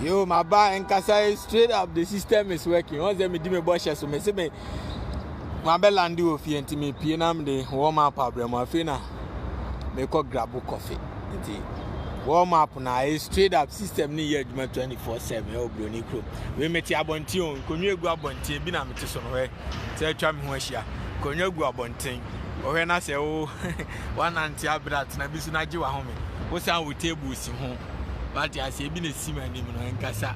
Yo, ma ba nkasa yi straight up the system is working. Wɔn sɛ medi me bɔ hyɛ so mesi me ma bɛ landi wɔ fie nti me pie nam de wɔn map abrɛ mu afei na mekɔ grabo kɔfe nti wɔn map na ayɛ straight up system ne yɛ adwuma twenty four seven ɛwɔ buroni kurom wei mete abɔnten o nkonnwa egu abɔnten ebi na mete so no hɛ sɛ atwa me ho ahyia nkonnwa gu abɔnten ɔhwɛ na sɛ wo wanante abere atena bi so na gye wahome wosan wo table si ho. wate aseɛ bi na ɛsi m'anim no ɛnkasa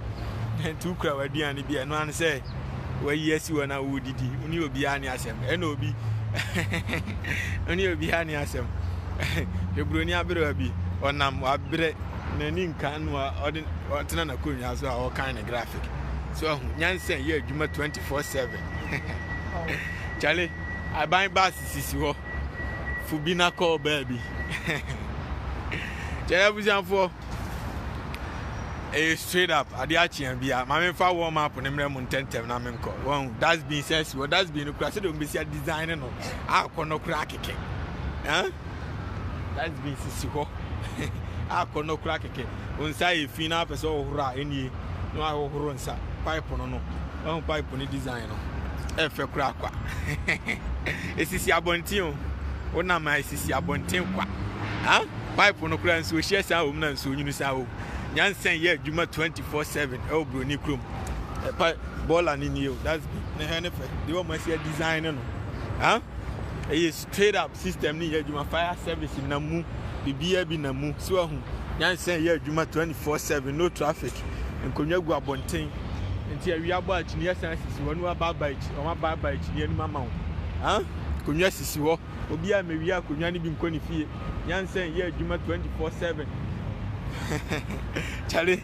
nti wokura w'aduane bi ɛno ano sɛ wayi asi hɔ na wodidi wo ne obiara ne asɛm ɛna obi wo ne obiara ne asɛm hebroni aberewa bi ɔnam wabrɛ n'ani nka no a ɔde ɔtena n'akonnwa so a ɔkan ne graphic so ahu nyansa yɛ adwuma 24/7 kyale aban baase sisi hɔ fo bi na kɔ baabi. Kyɛrɛ abusuafoɔ, ɛyɛ straight up adeɛ akyea bia ma memfa warm up ne mmerɛ mu ntɛntɛm na menkɔ wɔn dustbin sɛ asi wɔ dustbin no kora sɛdeɛ wɔbɛsi design no akɔ no kora kɛkɛ dustbin sisi hɔ akɔ no kora kɛkɛ wo nsa yɛ fi na apɛ sɛ ɔhoro a ɛnie na wahohoro nsa pipe no no Ɔn pipe ne design no ɛfɛ koraa kwa. Esisi abɔnten o. Wo nam a esisi abɔnten kwa. Ha? Pipe no koraa nsuo hyɛ saa wɔm na nsuo nyini saa o. Nyansɛn yɛ adwuma 24/7 ɛwɔ Buroni kurom. Ɛpa bɔɔla ne nie o. That's big. Ne hɛ ne fɛ. Deɛ wɔn asi design no no. Ha? Ɛyɛ Trade up system no yɛ adwuma fire service na mu biribiara bi na mu so ahu nyansa yɛ adwuma 24/7 no traffic nkonnwa gu abɔnten nti awia bɔ a kyini asan sisi hɔ no abaaba akyi wɔn abaaba akyi anim ama wo ha nkonnwa sisi hɔ obi a mewia akonnwa no bi nkɔ ne fie nyansa yɛ adwuma 24/7 kyale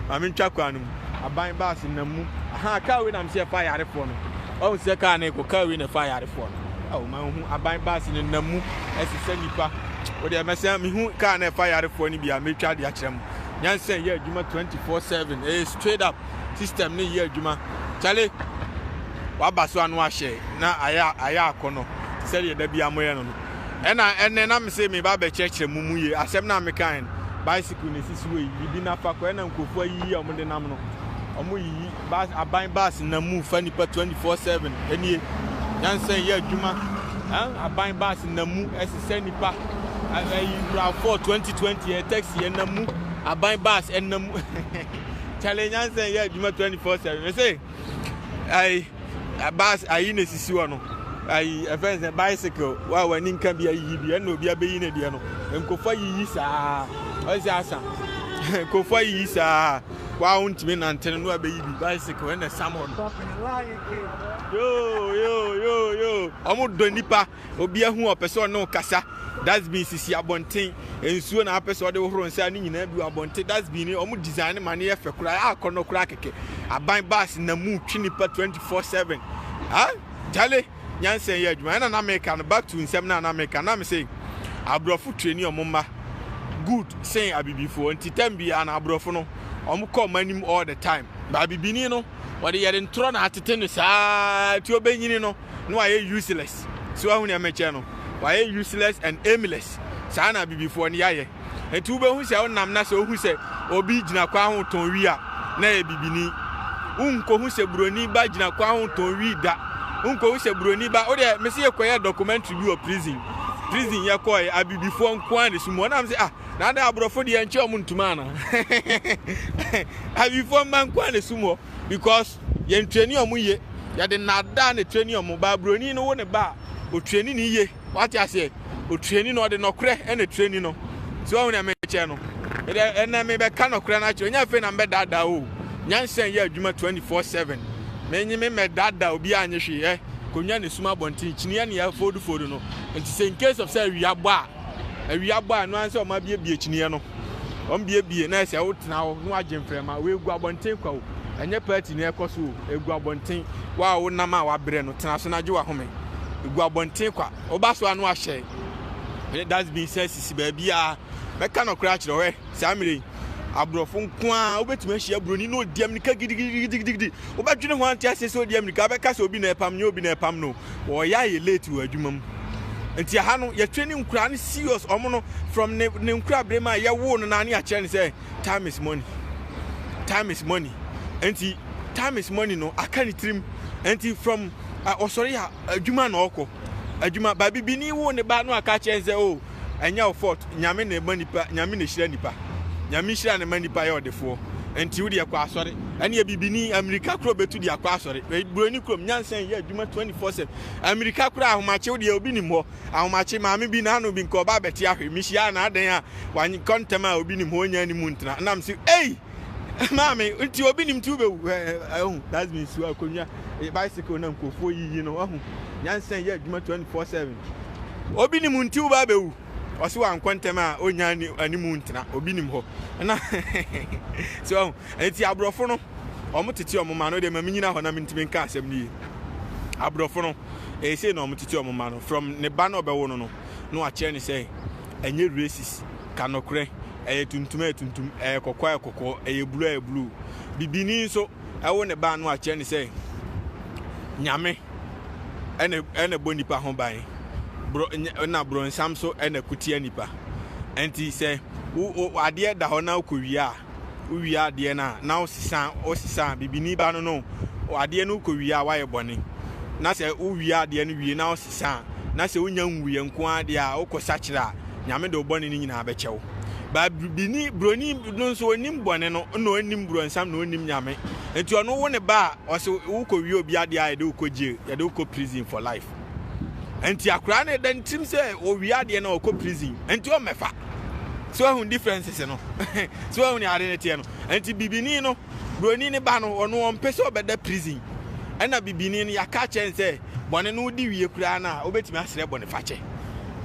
Maame ntwa kwan no mu. Aban bus nam mu. Ahaa car wei na me se ɛfa ayarefoɔ no. Wahu sɛ car no rekɔ. Car wei na ɛfa ayarefoɔ no. Ao ma nhu aban bus no nam mu ɛsesa nipa. Wodeɛ mɛsɛn mehu car na ɛfa ayarefoɔ no bi a metwa ade akyerɛ mo. Nyansa yɛ adwuma 24/7 ɛyɛ straight up system no yɛ adwuma. Kyale waba so ano ahyɛ na ayɛ ayɛ akɔnɔ sɛdeɛ da biara moyɛ no no. Ɛna ɛnɛ na mese meba abɛkyerɛkyerɛ mo mu ye asɛm no a mekae no. Bicycle na esisi hɔ yi, yibi na fa kɔ. Ɛna nkurɔfoɔ ayiyi a wɔde nam no. Wɔyiyi bus, aban bus nam mu fa nnipa 24/7. Ɛnie, nyansa nyɛ adwuma. Ɛn, aban bus nam mu ɛsesɛ nnipa. Ɛyi, RAV4 2020 ɛyɛ taxi, ɛnam mu. Aban bus ɛnam mu. Kyale, nyansa nyɛ adwuma 24/7. Mese, ɛyi. bus ayi na esisi hɔ no ayi ɛfɛn sɛ bicycle wa a w'ani nka bi ayiyi bi ɛna obi abɛyi ne deɛ no nkɔfo ayiyi saa ɔsi asa nkɔfo ayiyi saa wa wo ntumi nante no na wabɛyi bi bicycle ɛna ɛsam hɔ no yoo yoo yoo yoo ɔmo dɔ nipa. Obia hu a ɔpɛ sɛ ɔne wo kasa. Dustbin sisi abɔnten. Nsuo na apɛ sɛ ɔde hohoro nsa a ne nyinaa bi wɔ abɔnten. Dustbin no wɔn design no ma no yɛ fɛ koraa a akɔnnɔ koraa kɛkɛ. Aban bus nam mu twe nipa 24 seven. Ha? Charlie! Nyansa yɛ adwuma. Ɛna na meka no, back to nsɛm no a na meka no, na mese aborɔfo traini wɔn mma good sen abibifoɔ. Nti time biara no aborɔfo no wɔn kɔ wɔn anim all the time. But abibini no wɔde yɛde ntorɔ na atete no saa nti ɔbɛnyini no. na wayɛ useless so wahu nea mekyɛ no wayɛ useless and aimless saa na abibifoɔ no yɛayɛ nti wobɛhu sɛ wonam na sɛ wohu sɛ obi gyina kwan ho tɔn wi a na yɛ bibini wonkɔhu sɛ buroni ba gyina kwan ho tɔn wi da wonkɔhu sɛ buroni ba wodeɛ mese yɛkɔyɛ documentary bi wɔ prison prison yɛkɔɛ abibifoɔ nkoa ne so mu ɔnam sɛ ah na ada aborɔfo deɛ nkyɛ ɔmo ntoma ana abibifoɔ mma nkoa ne so mu because Yɛn trani ɔmo ye. Yɛde nnaadaa na etrani ɔmo. Baaburoni no wo ne ba a, otrani ne ye. Wate aseɛ? Otrani no, ɔde nɔkorɛ na etrani no. So woahu nea merekyerɛ no? Ɛdɛ, ɛnnɛ mebɛka nɔkorɛ no akyerɛ wo. Nyɛ afei na mebɛdaadaa wo o. Nyansa nyɛ adwuma twenty four seven. Menye me mmɛdaadaa obiara nyɛ hwee ɛ. Konwa na esum abɔnten, kyiniiɛ na yɛafoldu foldu no. Enti sɛ in case of sɛ awia bɔ a, awia bɔ a, ɛno ara ne sɛ wɔabiebie kyiniiɛ no. wɔmbuebue na ɛsɛ wotena hɔ na wɔagye mframa. Wɔagu abɔnten kwa o, ɛnyɛ party na ɛrekɔ so o, agu abɔnten. Wo a wonam a wabrɛ no, tena so na gye w'ahome. Agu abɔnten kwa. Woba so a na wɔahyɛ ne dustbin sɛ sisi baabiara. Mɛka nɔkorɛ akyerɛ wo, hwɛ, saa mmerɛ yi, aborɔfo nko ara, wobɛtumi ahyia buroni na ɔdi amirika gidigidigidigidi, wobɛdwene ho a wonte aseɛ sɛ ɔredi amirika, wobɛka sɛ obi na ɛrepam, nyɛ obi na ɛrepam no o. wɔyɛ a yɛ late wɔ adwuma mu nti aha no yɛtwe ne nkura no serious ɔmo no from ne ne nkura bere mu a yɛwoo no naa ne akyerɛ no sɛ time is money time is money nti time is money no aka ne tirim nti from ɔsɔre a adwuma na ɔkɔ adwuma baabi bi ne wo ne ba no aka kyerɛ no sɛ o oh, ɛnyɛ wo fault nyame na ɛma nipa nyame na ɛhyira nipa nyame hyira na ɛma nipa yɛ ɔdefoɔ nti wo deɛ kɔ asɔre ɛneɛ bibini amirika korɔ bɛtu de akɔ asɔre buroni kurom nyansa yɛ adwuma 24/7 amirika korɔ ahomakye wo deɛ obi nim hɔ ahomakye maame bi na ano bi nka ɔba abɛte ahwe mehyia na adɛn a wanyekɔ ntɛm a obi nim hɔ ɔnya anim ntena nam se ei Maame, nti obi nim ti wobɛwu ahu that's means so akonnwa bicycle na nkurɔfoɔ yiyi no ahu nyansa yɛ adwuma 24/7 obi nim nti wobaa bɛwu ɔso wankɔ ntɛm a ɔnya animu ntena obi nim hɔ na so ahu nti aborɔfo no ɔmo tete ɔmo ma no deɛ ma menyina hɔ na mentimi nka asɛm no yie aborɔfo no ɛsei na ɔmo tete ɔmo ma no from ne ba na ɔbɛwo no no na wakyerɛ ne sɛ ɛnyɛ racist, ka nokorɛ, ɛyɛ tuntum a ɛyɛ tuntum, ɛyɛ kɔkɔɔ a ɛyɛ kɔkɔɔ, ɛyɛ blue a ɛyɛ blue. Bibini nso ɛwo ne ba no a kyerɛ ne sɛ Nyame ɛna ɛna bɔ nipa ho ban, bro ɛna bronsam so ɛna kutia nipa. Ɛnti sɛ wo adeɛ da hɔ na wokɔ wie a wowie adeɛ no a na wosesa wosesa bibini ba no no adeɛ no wokɔ wie a woayɛ bɔne na sɛ wowie adeɛ no wie na wosesa a na sɛ wonya nwuiɛ nko ara deɛ a wokɔ sakyerɛ a nyame de wo bɔne no nyinaa bɛkyɛ wo ba bibini buroni no nso onim bɔne no na onim buronsam na onim nyame nti ɔno wo ne ba a ɔsɛ wokɔ wie obi adeɛ a yɛde wokɔ jail yɛde wokɔ prison for life nti akwaraa no ɛda ne tirim sɛ ɔwie adeɛ no ɔkɔ prison nti ɔmmɛfa so ahu differences no so ahu ne ade no teɛ no nti bibini no buroni ne ba no ɔno ɔmpɛ sɛ ɔbɛda prison ɛna bibini no yɛaka kyɛn sɛ bɔne no wodi wie koraa no a wobɛtumi asrɛ bɔne fakyɛ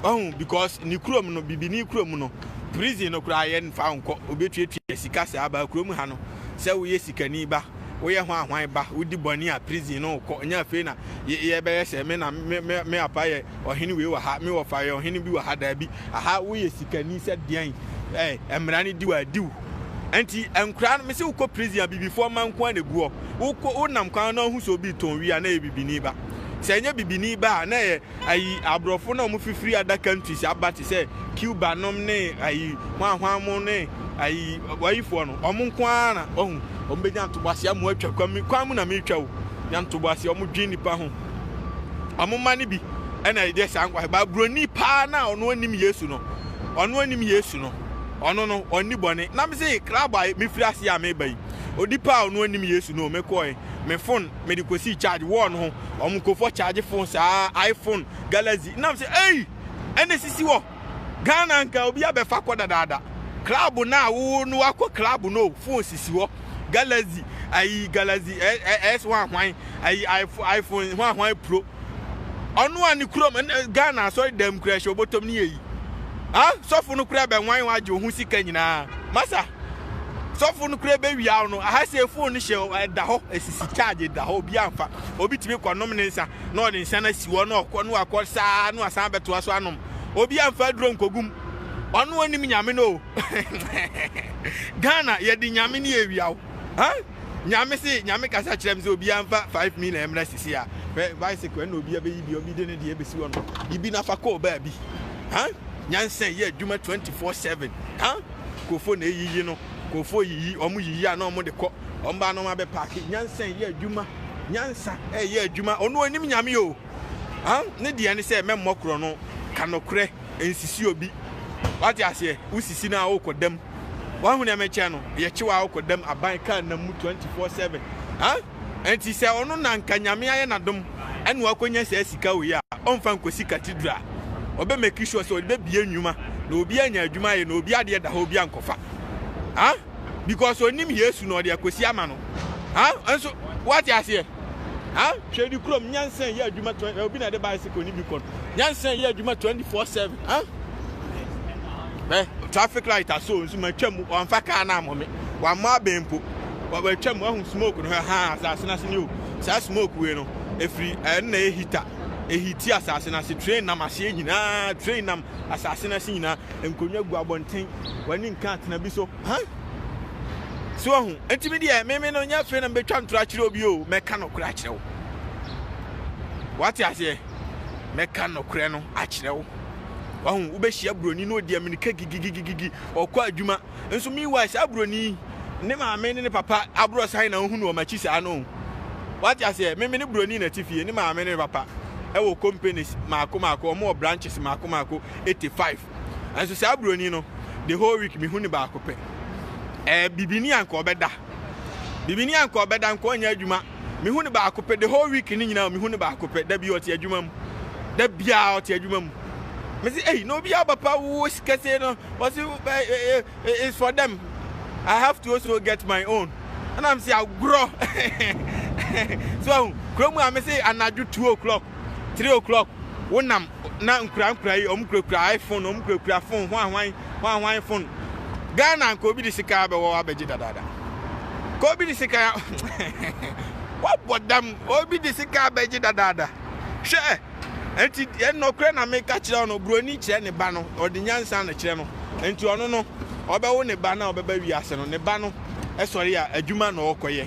wahu because ne kurom no bibini kurom no prison no koraa yɛmfa nkɔ obɛtuatua sika saa ba kurom ha no sɛ woyɛ sikani ba woyɛ ho ahwan ba wodi bɔne a prison no wokɔ nyɛ afei na yɛbɛyɛ sɛ me na me apa yɛ ɔhene wei wɔ ha me wɔfa yɛ ɔhene bi wɔ ha daabi aha woyɛ sikani sɛ deɛn ɛɛ mmara no di wɔ adiw nti nkora no mese wokɔ prison a bibifoɔ ma nko a na ɛguɔ wokɔ wonam kwan no ahosuo bi tɔn wi a na ɛyɛ bibini ba sɛ ɛnyɛ bibini ba a na ɛyɛ Ayi abrɔfo no a ɔmo fifiri ada kantris aba te sɛ Cuba nom ne ayi hwan hwan mo ne ayi wayifoɔ no ɔmo nko ara na ɔhu ɔmo bɛ nya ntoboaseɛ amo atwa kwan mi kwan mu na mi twa o nya ntoboaseɛ ɔmo dwen nipa ho ɔmo mma no bi ɛna ɛyɛ saa nkwa ba broni paa na ɔno ɔnim yesu no ɔno ɔnim yesu no ɔno no ɔnni bɔne na mi se kraba mi firi ase a mi ba yi odipa a ɔno ɔnim yesu no mi kɔɛ mi fon mede kɔsii charge wall no ho wɔn nkɔfɔ charge phone saa iphone galaxy nam sɛ ei ɛna sisi wɔ ghana nka obi abɛfa kɔ dadaada club no a wo no wakɔ club no phone sisi hɔ galaxy ayi galaxy s1 hwan ayi iphone hwan hwan pro Ɔno a ne kurom Ghana asɔre dɛm kura hyɛ obotom ne eyi. Ha sɔfo no kura bɛnwan wa agye ho sika nyinaa. Masa sɔfo no kura bewiaw no. Aha sɛ phone no hyɛ ɛda hɔ esisi charge ɛda hɔ obi amfa. Obi tumi kɔ nom ne nsa na ɔde nsa na si hɔ na ɔkɔ no akɔ saa no asan bɛtoa so anom. Obi amfa aduro nkogum. Ɔno onim nyame no. Ghana yɛde nyame ne ewiaw. Huh? Nyame se Nyame kasa kyerɛ me sɛ obiara mfa 5 million mmra sisi a hwɛ bicycle ɛna obi abɛyi bi obi de ne deɛ bɛsi hɔ no yi bi nafa kɔɔ baabi ha nyansa yɛ adwuma 24/7 ha kofo na eyiyi no kofo yiyi ɔmo yiyi a na ɔmo de kɔ ɔmo ba na ɔmo abɛ paaki nyansa yɛ adwuma nyansa ɛyɛ adwuma ɔno onim nyame o Ne deɛ ne sɛ mɛmmɔ korɔno, ka nokorɛ, nsisi obi. Wate aseɛ? Wosisi no a wokɔ dam. Wahu deɛ mekyerɛ no? Yɛkye wo a wokɔ dam, aban car nam mu twenty four seven. Nti sɛ ɔno na nka Nyame ayɛ no adom ɛna wakɔnya saa sika wei a, ɔmfa nkɔsi cathedral. Ɔbɛ make sure sɛ ɔde bɛbue nnwuma na obi anya adwuma ayɛ na obi adeɛ da hɔ obi ankɔfa. because onim yesu na ɔde akosi ama no ha nso wate aseɛ ha hwɛ di kurom nyansa yɛ adwuma twenty obi na ɛde bicycle ni bi kɔ nyansa yɛ adwuma twenty four seven ha ɛ traffic light aso nso ma twam wɔnfa kaa na amɔ me wɔamɔ abɛn mpo wɔatwam ahu smoke no ha asase no ase ne o saa smoke wei no efiri ɛnna ehita ehiti asase no ase train nam aseɛ nyinaa train nam Asase no ase nyinaa, nkonnwa gu abɔnten, w'ani nka atena bi so, huh? So wahu? Enti me deɛ, me me no, nyɛ afei na mebɛtwa ntorɔ akyerɛ wo bio, mɛka nokorɛ akyerɛ wo. Wate aseɛ? Mɛka nokorɛ no akyerɛ wo. Wahu? Wobɛhyia buroni na ɔdi amirika gigigigigi, ɔkɔ adwuma. nso meanwhile saa buroni yi ne maame ne ne papa aborɔ san na ohunu wɔn akyi saa no wate aseɛ meme ne buroni na ti fie ne maame ne ne papa ɛwɔ companies maako maako wɔn wɔ branches maako maako 85 nso saa buroni no the whole week mehu ne baako pɛ ɛɛ bibini anka ɔbɛda bibini anka ɔbɛda nka ɔnyɛ adwuma mehu ne baako pɛ the whole week ne nyinaa mehu ne baako pɛ da bi ɔte adwuma mu da biara ɔte adwuma mu me se ei na obi a papa wo kɛse no ɔse eh, eh, eh, is for them i have to also get my own ɛna me se agorɔ so ahu kuro mu a me se anadwo two o'clock three o'clock wonam na nkurankura yi ɔmo kurakura iphone ɔmo kurakura phone hwanhwan hwanhwan phone ghana nka obi de sika abɛwɔ abɛgye dadaada ka obi de sika wabɔ dam obi de sika abɛgye dadaada hwɛ Enti deɛ nɔkorɛ na meka kyerɛ wo no, buroni kyerɛ ne ba no, ɔde nyansa na kyerɛ no. Enti ɔno no, ɔbɛwo ne ba no a ɔbɛba wiase no, ne ba no sɔre a, adwuma na ɔrekɔyɛ.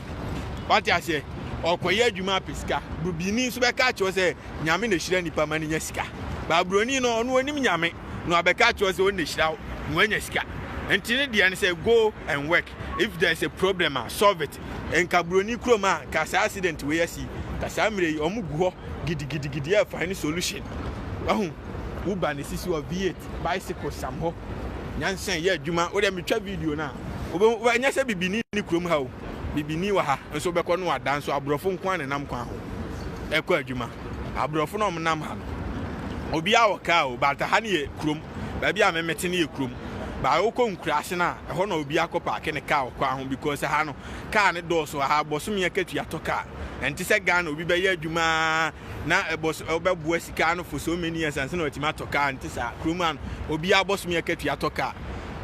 Wate aseɛ? Ɔrekɔyɛ adwuma apɛ sika. Burubini nso bɛka akyerɛ wo sɛ, Nyame na ɛhyira nipa ma no nya sika. Baa buroni no, ɔno ɔnim Nyame, na wabɛka akyerɛ wo sɛ ɔno na ɛhyira wo, na woanya sika. Enti ne deɛ ne sɛ, go and work, if there is a problem a, solve it. nka broni kurom a nka saa accident wei asi nka saa mmerɛ yi ɔmo gu hɔ gidigidigidi yɛ find solution wahu woba na esisi hɔ v8 bicycle sam hɔ nyansa yɛ adwuma wodɛ metwa video no a wobɛhu wa ɛnyɛ sɛ bibini ne kurom ha o bibini wɔ ha nso wobɛkɔ no ada nso aborɔfo nko a na nam kwan ho ɛkɔ adwuma aborɔfo na ɔmo nam ha no obiara wɔ kaa o but ha no yɛ kurom baabi a me mete no yɛ kurom but wokɔ nkuraase no a ɛhɔ na obi akɔ paake ne car wɔ kwan ho because ɛha no car no dɔɔso wɔ ha bosome akatua tɔ car ɛnte sɛ Ghana obi bɛyɛ adwuma na ɛbɔs ɔbɛboa sika ano for so many years ansa na watumi atɔ car nte saa kurom ano obi abɔsome akatua tɔ car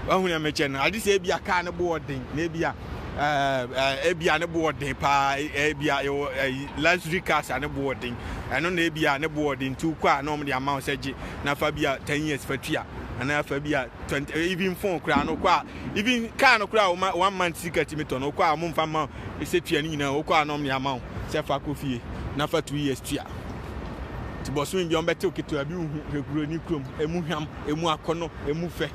wahu na mekyɛ no ade sɛ ebi a car no bo ɔden na ebi a eh, ebia ne bo ɔden paa ebia yɛwɔ eh, luxury cars a ne bo ɔden ɛno na ebia ne bo ɔden nti wokɔ a na wɔn de ama wo sɛ gye na fa bi a ten years fa tua anaa fa bi a twenty eh, even phone koraa no wokɔ a even car no koraa wɔn one month sika tumi tɔ no wokɔ a wɔn mfa ma sɛ tua ne nyinaa wokɔ a na wɔn de ama wo sɛ fa kɔ fie na fa two years tua nti bɔsɔn bi wɔn bɛtew ketewa bi wohu hwɛ kuro ni kurom emu hwam emu akɔnɔ emu fɛ.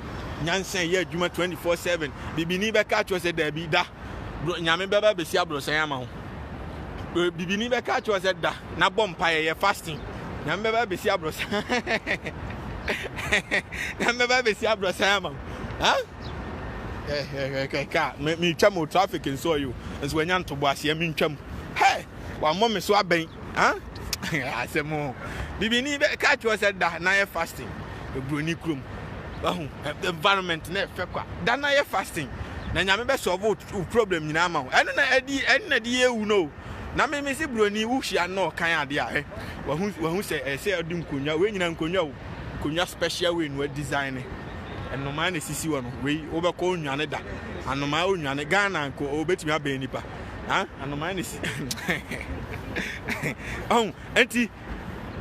nyansa yɛ adwuma 24/7 bibini bɛka akyerɛ sɛ daabi da nyame bɛba bɛsi aborɔsan ama ho bibini bɛka akyerɛ sɛ da na bɔ mpaeɛ yɛ fasting nyame bɛba bɛsi aborɔsan nyame bɛba bɛsi aborɔsan ama ho kɛkɛkɛkɛka metwa mo traffic nso ɔyo nso wanya ntoboaseɛ mentwam hɛ wammɔ me so abɛn Huh? Asɛm o. Bibini bɛ ka kyerɛ sɛ da na yɛ fasting. Broni krom. Wahu environment na ɛfɛ kwa. Da na yɛ fasting. Na nyame bɛ solve wo problem nyinaa ma wo. Ɛno na ɛdi ɛno na di ewu no. Na me me si broni wo hyia no kan ade a. Wahu wahu sɛ ɛsɛ ɔdi nkonwa. We nyina nkonwa o. Nkonwa special way no design ne. Ɛnomaa na sisi wɔ no. Wei wobɛkɔ onwane da. Anomaa onwane Ghana nko obetumi abɛn nipa. ha anomaa ne si ɔn ɛnti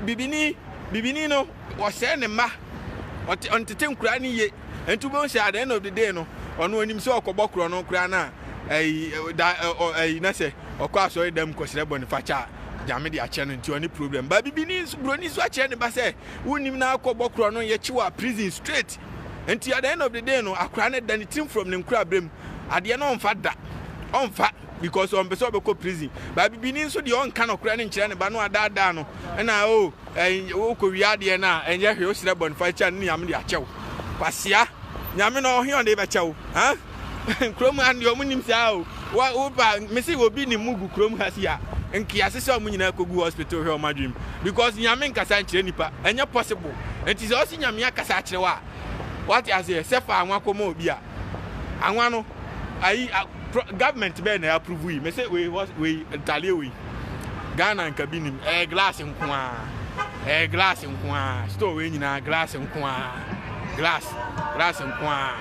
bibini bibini no wɔsɛɛ ne mma ɔte ɔntete nkura ne yie ɛnti wobɛhu sɛ at the end of the day no ɔno onim sɛ ɔkɔbɔ korɔ no koraa no a ɛyi da ɛyi na sɛ ɔkɔ asɔre dɛm kɔsrɛ bɔ ne fakyɛ a nyame de akyɛ no nti ɔne problem ba bibini nso buroni nso akyerɛ ne ba sɛ wonim na akɔbɔ korɔ no yɛkye wɔ prison straight nti at the end of the day no akora no da ne tirim from ne nkura berɛ mu adeɛ no ɔmfa da ɔmfa because ɔmpɛ sɛ ɔbɛkɔ prison ba bibini nso deɛ ɔnka nɔkorɛ no nkyerɛ ne ba no adaadaa no ɛna o oh, wokɔwie adeɛ no a ɛnyɛ hwee woserɛ bɔne fa kyɛ no ne nyame de akyɛw kwasea nyame no ɔhe ɔde bɛkyɛw kurom ha deɛ ɔmo nim saa o woba mese obi ne mu gu kurom ha si a nkease sɛ ɔmo nyinaa kɔgu hospital hwɛ ɔmo adwene mu because nyame nkasa nkyerɛ nipa ɛnyɛ possible nti sɛ ɔse nyame akasa akyerɛ wo a wate aseɛ sɛ fa anwa kɔma obi a Anwa no ayi a pro government bɛyɛ na approve yi. Mese wei wei ntadeɛ wei. Ghana nka bi nim. Ɛyɛ glass nko a. Ɛyɛ glass nko a. Store wei nyinaa glass nko a. Glass glass nko a.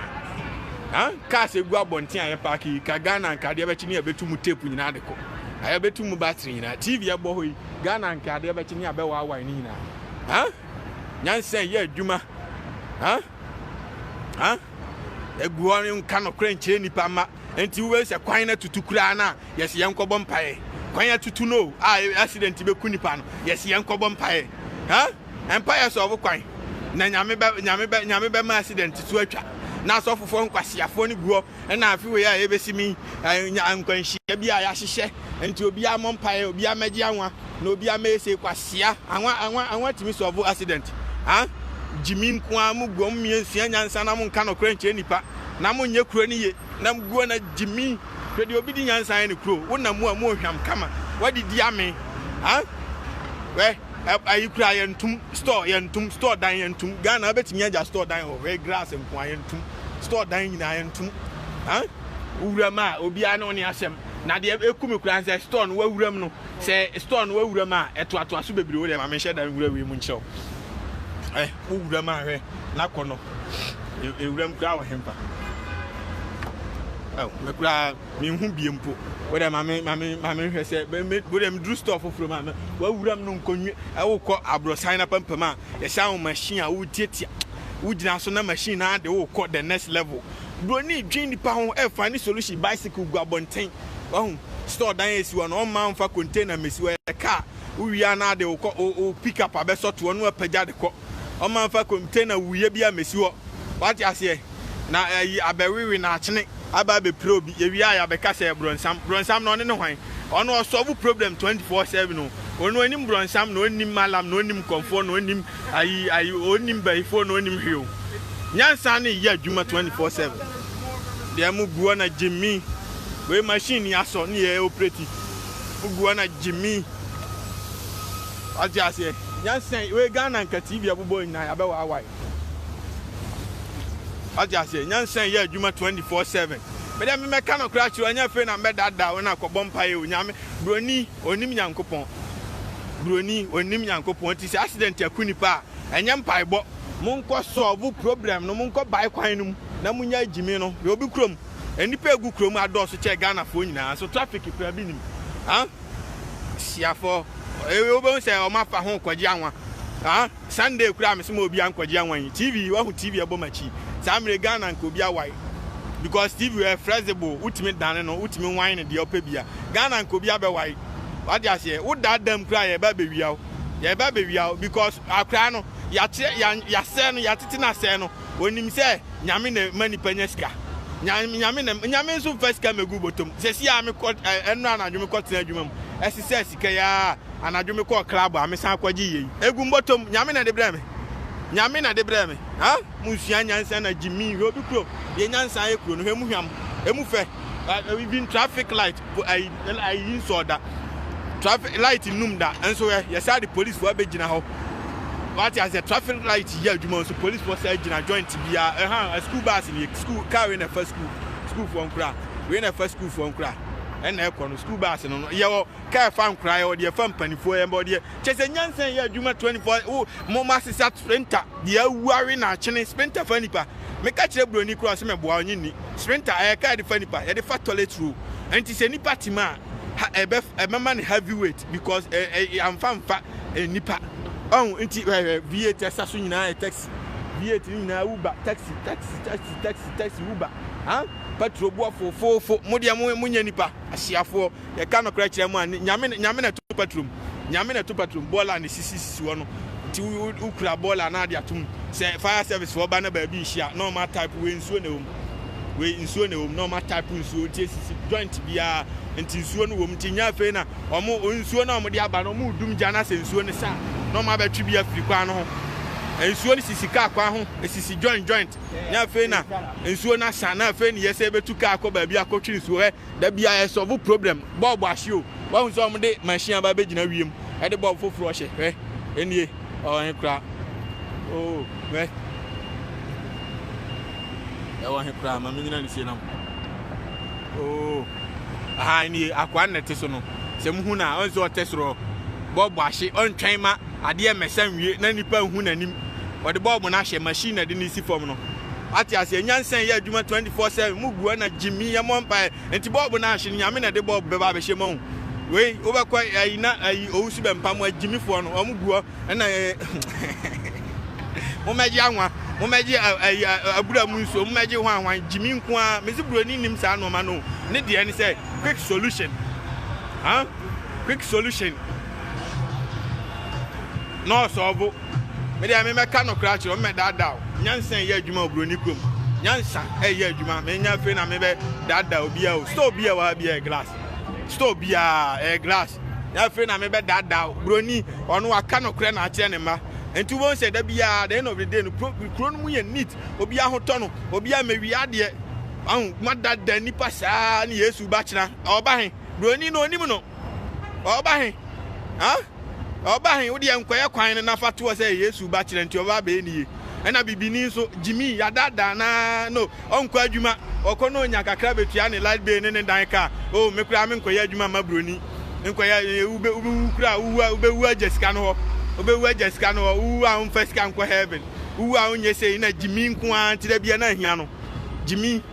Ha cars egu abɔnten a yɛ park yi ka Ghana nka adeɛ bɛkye ne yɛbɛtu mu tape nyinaa de kɔ. A yɛbɛtu mu battery nyinaa. TV ɛbɔ hɔ yi Ghana nka adeɛ bɛkye ne yɛbɛwaawae ne nyinaa. Ha nyansa yɛ adwuma. Ha ha egu hɔ no nka nokorɛ nkyerɛ nnipa mma nti wobɛhu sɛ kwan no atutu koraa no a yɛsi yɛn nkɔbɔ mpaeɛ kwan atutu no a e, accident bɛku nnipa no yɛsi yɛn nkɔbɔ mpaeɛ ha mpaeɛ sɛ ɔbo kwan na nyame bɛ nyame bɛ nyame bɛma accident so atwa na asɔfofoɔ nkwasiafoɔ no gu hɔ Ɛna afe wei a yɛbɛsi mi nya nkwanhyia bi a yɛahyehyɛ nti obiara mmɔ mpaeɛ obiara mmɛgye anwa na obiara mmɛɛsei kwasia anwa anwa anwa tumi sɔɔvo accident ah gyimi nkoa mo guo mo mmea nsua nyansa na mo nka nɔkorɛ nkyerɛ nipa na mo nyɛ kuro no ye na mo guo na gyimi hwɛ deɛ obi di nyansa yɛ ne kuro wo na mu a mo ohwam kama wadidi ame ah wɛ ayi kura yɛntum store yɛntum store dan yɛntum Ghana abɛtumi agya store dan wɔ hwɛ grass nkoa yɛntum store dan nyinaa ɛntom huh. Wuram a obiara ne wo ne asɛm na deɛ ɛku me koraa nsɛ store no wawuram no sɛ store no wawuram a ɛtoatoa so bebree wo deɛ ma menhyɛ dan nwura wei mu nkyerɛ wo eh wo wuram a hwɛ na kɔ no ewuram koraa wɔ hempa oh me koraa menhu bie mpo wo deɛ ma me ma me ma me hwɛ sɛ wo deɛ meduru store foforɔ ma me wawuram no nkɔnwi ɛwokɔ aborɔsan na pampam a yɛhyɛ wo machine a wotiatia wogyina so na machine no ara de wo rekɔ the next level. Broni dwen nipa ho ɛfa ne solution bicycle gu abɔnten. Wahu? Store dan a esi hɔ no ɔmma ɔmfa container mmesi hɔ ɛyɛ car. Wowie a na ade wo kɔ wo wo pick up abɛsɔ toɔ na wapagya de kɔ. Ɔmma mfa container wuiɛ biara mmesi hɔ. Wate aseɛ? Na ayi abɛwewe na akyene aba abɛpira obi. Yɛwie a yɛabɛka sɛ brɔnsam. Brɔnsam no ɔne ne hwan? Ɔno ɔsolve problem 24 seven o. Ɔno ɔnim brɔnsam na ɔnnim malam na ɔnnim kɔmfoɔ na ɔnnim Ayi ayi onim bayifoɔ no onim hwee o nyansa ne yɛ adwuma 24/7 deɛ mo guɔ na gyimi wei machine ni asɔ ne yɛ operate mo guɔ na gyimi wate aseɛ nyansa wei Ghana nka TV abobɔ nyinaa yabɛ waawae wate aseɛ nyansa yɛ adwuma 24/7 mede memɛka no koraa kyerɛ ɔnyɛ fei na mbɛdada wo na kɔbɔ mpa yɛ o nyame broni Ɔnnim Nyankopɔn. Buroni, ɔnnim Nyankopɔn. Ɔte sɛ accident aku nipa a, ɛnyɛ mpaebɔ. Monkɔ solve problem no, monkɔ bae kwan no mu na monyae gyimi no. Yɛ obi kurom. Nnipa a ɛgu kurom adɔɔso kyɛn Ghanafoɔ nyinaa, nso traffic koraa bi nnim. Ahh. Siafoɔ, wobɛhu sɛ wɔafa ho rekɔgye anwa. Ahh. Sunday koraa mese ma obiaa nkɔgye awan TV wahu TV ɛbɔ makyi saa mmerɛ yi Ghana nka obiaa wae because TV ɛyɛ flexible wotumi dane no wotumi wan no deɛ wopɛ bia Ghana nka obiaa bɛwae wate aseɛ wo da dam koraa yɛreba abɛwia wo yɛreba abɛwia wo because akoraa no yɛakyerɛ yɛasɛe no yɛatete no asɛe no Onim sɛ Nyame na ma nipa nya sika. Nyame na Nyame nso mfa sika megu botom. Sɛsi a mekɔ ɛnora anadwo mekɔ tena adwuma mu. Ɛsesɛ sika yi aa. Anadwo mekɔ club a mesan kɔ gye yei. Egu mbotom. Nyame na de brɛ me. Nyame na de brɛ me. Ha? Monsua nyansa na gyimii. Hwɛ obi kuro. Deɛ nyansa ayɛ kuro no. Hwɛ emu hwam. Emu fɛ. Even traffic light. po ayi na ayi nsɔɔ da traffic light nnum da nso ɛ yɛsaa de polisifoɔ abɛgyina hɔ wate aseɛ traffic light yɛ adwuma nso polisifoɔ saa gyina joint biara ɛha school bus ni school car wei na ɛfa school schoolfoɔ nkora wei na ɛfa schoolfoɔ nkora ɛna ɛkɔ no school bus no no yɛwɔ kaa ɛfa nkora yɛwɔ deɛ ɛfa mpanimfoɔ yɛn bɔ deɛ kyɛ sɛ nyansa yɛ adwuma 24 wo mo ma sesa sprinter deɛ awuawe na akyene sprinter fa nipa Meka kyerɛ buroni koraa sɛ mɛboa ɔnye nni. Sprinter, ɛyɛ kaa a yɛde fa nnipa, yɛde fa toilet roll. Nti sɛ nnipa te mu a, ha, ɛbɛ, ɛbɛma no heavy weight because ɛ, ɛ, yɛamfa mfa nnipa. Ɔho, nti hwɛ, hwɛ, V8 a ɛsa so nyinaa yɛ taxi. V8 no nyinaa Uber, taxi, taxi, taxi, taxi, taxi, Uber. Huh? Petrol boɔ fofoofo. Mo deɛ mo, monyɛ nnipa, ahyeafoɔ. yɛka nokorɛ kyerɛ mo a, Nyame, Nyame na ɛto paturo mu, Nyame na ɛto paturo mu, bɔɔla na sisi sisi hɔ no, nti wo, wo, wo kura bɔɔla na ade ato mu, sɛ fire service foɔ ba na baabi nhyia, na ɔma type wei nsuo na ɛwom, wei nsuo na ɛwom, na ɔma type nsuo, nti esisi joint biara, nti nsuo no wom, nti nyɛ afei na ɔmo, nsuo na ɔmo de aba no, ɔmo dum gya na sɛ nsuo no sa a, na ɔmo abɛtwe bi afiri kwan no ho. Nsuo no sisi kaa kwan ho, esisi joint joint, nyɛ afei na nsuo no asa, na afei na yɛsɛ yɛbɛtu kaa akɔ baabi akɔtwe nsuo, hwɛ. Da bia yɛ sɔvo problem bulb ahye o wahu sɛ ɔmo de machine aba abɛgyina wiem ɛde bulb foforɔ hyɛ hwɛ ɛnie ɔwɔ he koraa oo hwɛ ɛwɔ he koraa ma menyina ne sie nam oo aha ɛnie akoa nnɛte so no sɛ muhu no a ɔn sɛ ɔtɛ sorɔ bulb ahye ɔntwɛn ma adeɛ mmɛsa nwie na nipa nhu n'anim ɔde bulb no ahyɛ machine na ɛde ne si fam no Wate aseɛ nyansa yɛ adwuma 24 7 mu gu ɛna gyimi yɛ mɔ mpaeɛ nti bɔɔbo no ahye no nyame na ɛde bɔɔbo bɛba abɛhyɛ mu ahu wei wobɛkɔ ayi na ayi owu so bɛmpa mu agyimifoɔ no ɔmo guɔ ɛna momɛgye anwa momɛgye ayi abura mu nsuo momɛgye ho anwa gyimi nko ara mesi buroni nim saa nnoɔma no ne deɛ ne sɛ quick solution huh? quick solution na ɔsɔɔbo Me deɛ memɛka nokora akyerɛ wo, mɛdaadaa wo. Nyansa ɛyɛ adwuma wɔ buroni kurom. Nyansa ɛyɛ adwuma. Menya afei na mebɛ daadaa obiara o. Store biara wɔ ha biara ɛyɛ glass. Store biara ɛyɛ glass. Nya afei na mebɛ daadaa wo. Buroni, ɔno waka nokorɛ na akyerɛ ne mma. Nti wobɛhu sɛ da biara, the end of the day no, kuro no mu yɛ neat. Obiara ho tɔ no. Obiara mɛwia adeɛ. Ahu, moadaadaa nipa saa ne Yesu ba kyena. Ɔba he? Buroni no, onim no. Ɔba he? Huh? Na ɔba he, wodeɛ nkɔyɛ kwan no na fa toɔ sɛ Yesu ba kyerɛ nti ɔba abɛyɛ ne yie. Ɛna bibini nso, gyimii, yɛadaadaa no aa no, ɔnkɔ adwuma, ɔkɔ na ɔnya kakra bɛtua ne light bill ne ne dan kaa. Oh, me koraa menkɔyɛ adwuma mma buroni. Nkɔyɛ, wobɛ, wobɛwu koraa, wowu a, wobɛwu agya sika no hɔ. Wobɛwu agya sika no hɔ, wowu a womfa sika nkɔ heaven. Wowu a wonyɛ sei, na gyimii nko ara nti da biara na ahia no. Gyimii.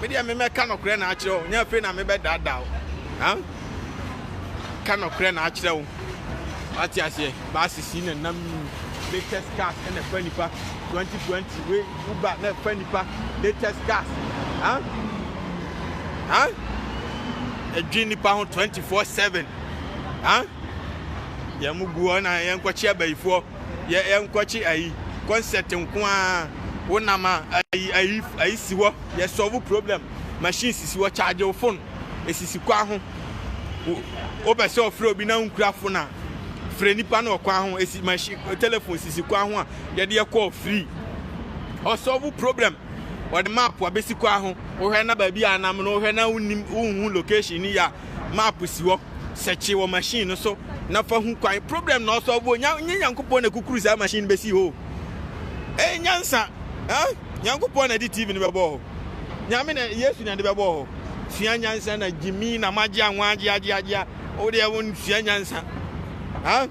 Me deɛ me mɛka nɔkorɛ na akyerɛ wo, nyɛ afei na mebɛdaadaa wo. Ha? Ka nɔkorɛ na akyerɛ wo. Wate aseɛ, buses yi na nam yi, latest cars na ɛfa nipa, 2020 wei Uber na ɛfa nipa, latest cars. Ha? Ha? Ɛdwe nipa ho 24/7. Ha? Yɛn mu guɔ na yɛn kɔkye abayifoɔ. yɛ yɛ nkɔkye ayi concept nko ara wo nam a ayi ayi ayi si hɔ yɛ solve problem machine sisi hɔ charge wo phone esisi kwan ho wo pɛ sɛ ɔfrɛ obi na nkura phone a frɛ nipa na ɔkwan ho esi machine telephone sisi kwan ho a yɛde yɛ call free ɔsolve problem ɔde map abesi kwan ho wohwɛ na baabi a nam no wohwɛ na wonim wohu location ni ya map si hɔ, sɛkye wɔ machine no so na fa hu kwan. Problem na ɔsɔlve o, nya nye Nyankopɔn na ekukuru saa machine no besi hɔ o. Ɛyɛ nyansa, eh? Nyankopɔn na ɛde TV no bɛbɔɔ hɔ. Nyame na, Yesu na ɛde bɛbɔɔ hɔ. Sua nyansa na gyimi na magyea nwaagyeagyeagyea. Wo deɛ wo nsua nyansa, ah?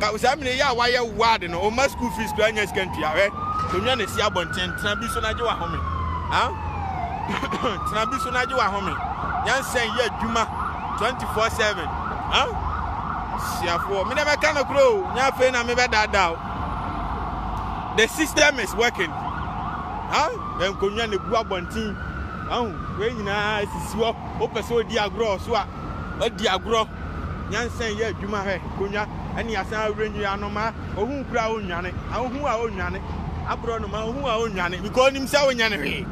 Ka saa mmerɛ yi a wayɛ ward no, ɔmma school fees koraa nnya sika ntua. Hwɛ! Kɔnwa no si abɔnten, tena bi so na gye w'ahome. Huh? Tena bi so na gye w'ahome. Nyansa yɛ adwuma 24/7. Huh? Siafoɔ, me na mɛka no korɔ o, nyɛ afei na mebɛdaadaa o. The system is working. Huh? Yɛn kɔnwa no gu abɔnten. Ahu, wei nyinaa sisi hɔ, wopɛ sɛ ɔdi agorɔ so a, Ɔadi agorɔ, nyansa nyɛ adwuma hwɛ konwa ɛne asan awerɛ nyi anomaa ɔhu kura a ɔnnwane ɔhu a ɔnnwane aborɔ nomaa ɔhu a ɔnnwane because ɔnim sɛ ɔnyɛ ne hwee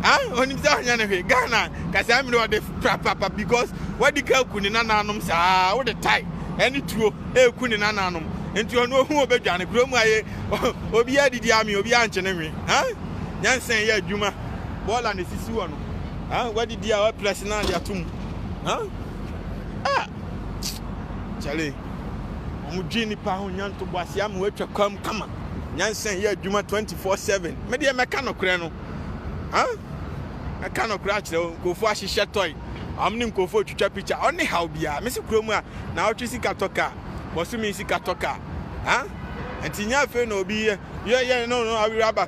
ah ɔnim sɛ ɔnyɛ ne hwee Ghana kasaa mmiri ɔde prapapa because wadi ka ku ne nananom saa wode tae ɛne tuo ɛku ne nananom nti ɔno ɔhu ɔbɛdwane kuro mu ayɛ obi adidi ame obi ankye ne nwe ah nyansa yɛ adwuma bɔɔla na ɛsisi wɔ no ah wadidi a waprɛse na ade ato mu Huh? Ah! Charlie, wɔn dwi nipa ho nya ntobo ase ama wɔatwa kwam kama. Nyansa yɛ adwuma 24/7. Me deɛ mɛka nokorɛ no. Huh? Mɛka nokorɛ akyerɛ wo. Nkurɔfoɔ ahyehyɛ tɔe. Wɔn ne nkurɔfoɔ retwitwa pikya. Wɔn ne haw biara. Me se kurom a, na wɔtwe sika tɔ kaa. Bosome sika tɔ kaa. Huh? Nti nyɛ afei na obi yɛ yɛ yɛ no no awerɛ aba.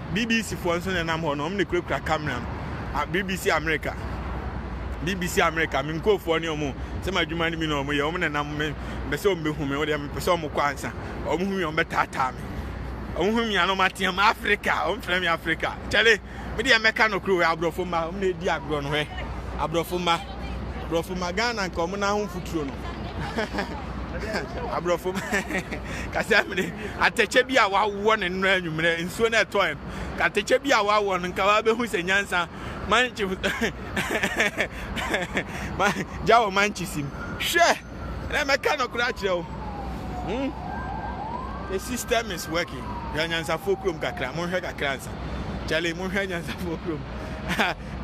BBC foɔ nso na ɛnam hɔ no, wɔn na ɛkurakura camera no. Ah, BBC America. BBC America, me nkurɔfoɔ ne wɔn, sɛ m'adwuma no bi na wɔn yɛ, wɔn na ɛnam me, mpɛ sɛ wɔn bɛhu me, wɔn deɛ mepɛ sɛ wɔn kɔ ansa. Wɔn hu me, wɔn bɛtaataa me. Wɔn hu me a na wɔn ateam Africa, wɔn frɛ me Africa. Kyale, me deɛ mɛka no koro, aborɔfo mma, wɔn na ɛdi agorɔ no hɛ. Aborɔfo mma, aborɔfo mma, Ghana nka wɔn na ho mfuturo no. Aborɔfo mma. kasɛ mene atɛkyɛ bi a wawɔ ne nnora anwummerɛ nsuo no ɛtɔɛ no atɛkyɛ bi a wawɔ no nka wabɛhu sɛ nyansa manchi gya wɔ manchi sim hwɛ na mɛka nɔkorɛ akyerɛ wo hmm? the system is working hwɛ nyansafoɔ kurom kakra monhwɛ kakra nsa kyɛle monhwɛ nyansafoɔ kurom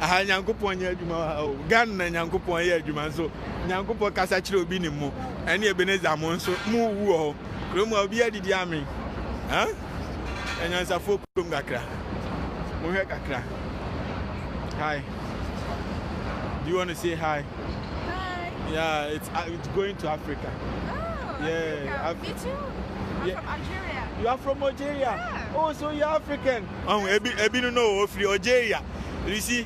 aha nyankopɔn nyɛ adwuma wɔ ha o ghana nyankopɔn yɛ adwuma nso Nyankopɔn kasa kyerɛ obi ne mo ɛne Ebenezer mo nso mo wu wɔ hɔ kurom a obiara didi amen huh anyansafoɔ kurom kakra mo hwɛ kakra hi do you want to say hi hi yeah it's, uh, it's going to Africa oh, yeah Africa. Af me too I'm yeah. from Algeria you are from Algeria yeah. oh so you're African oh ebi ebi no no ofiri Algeria you see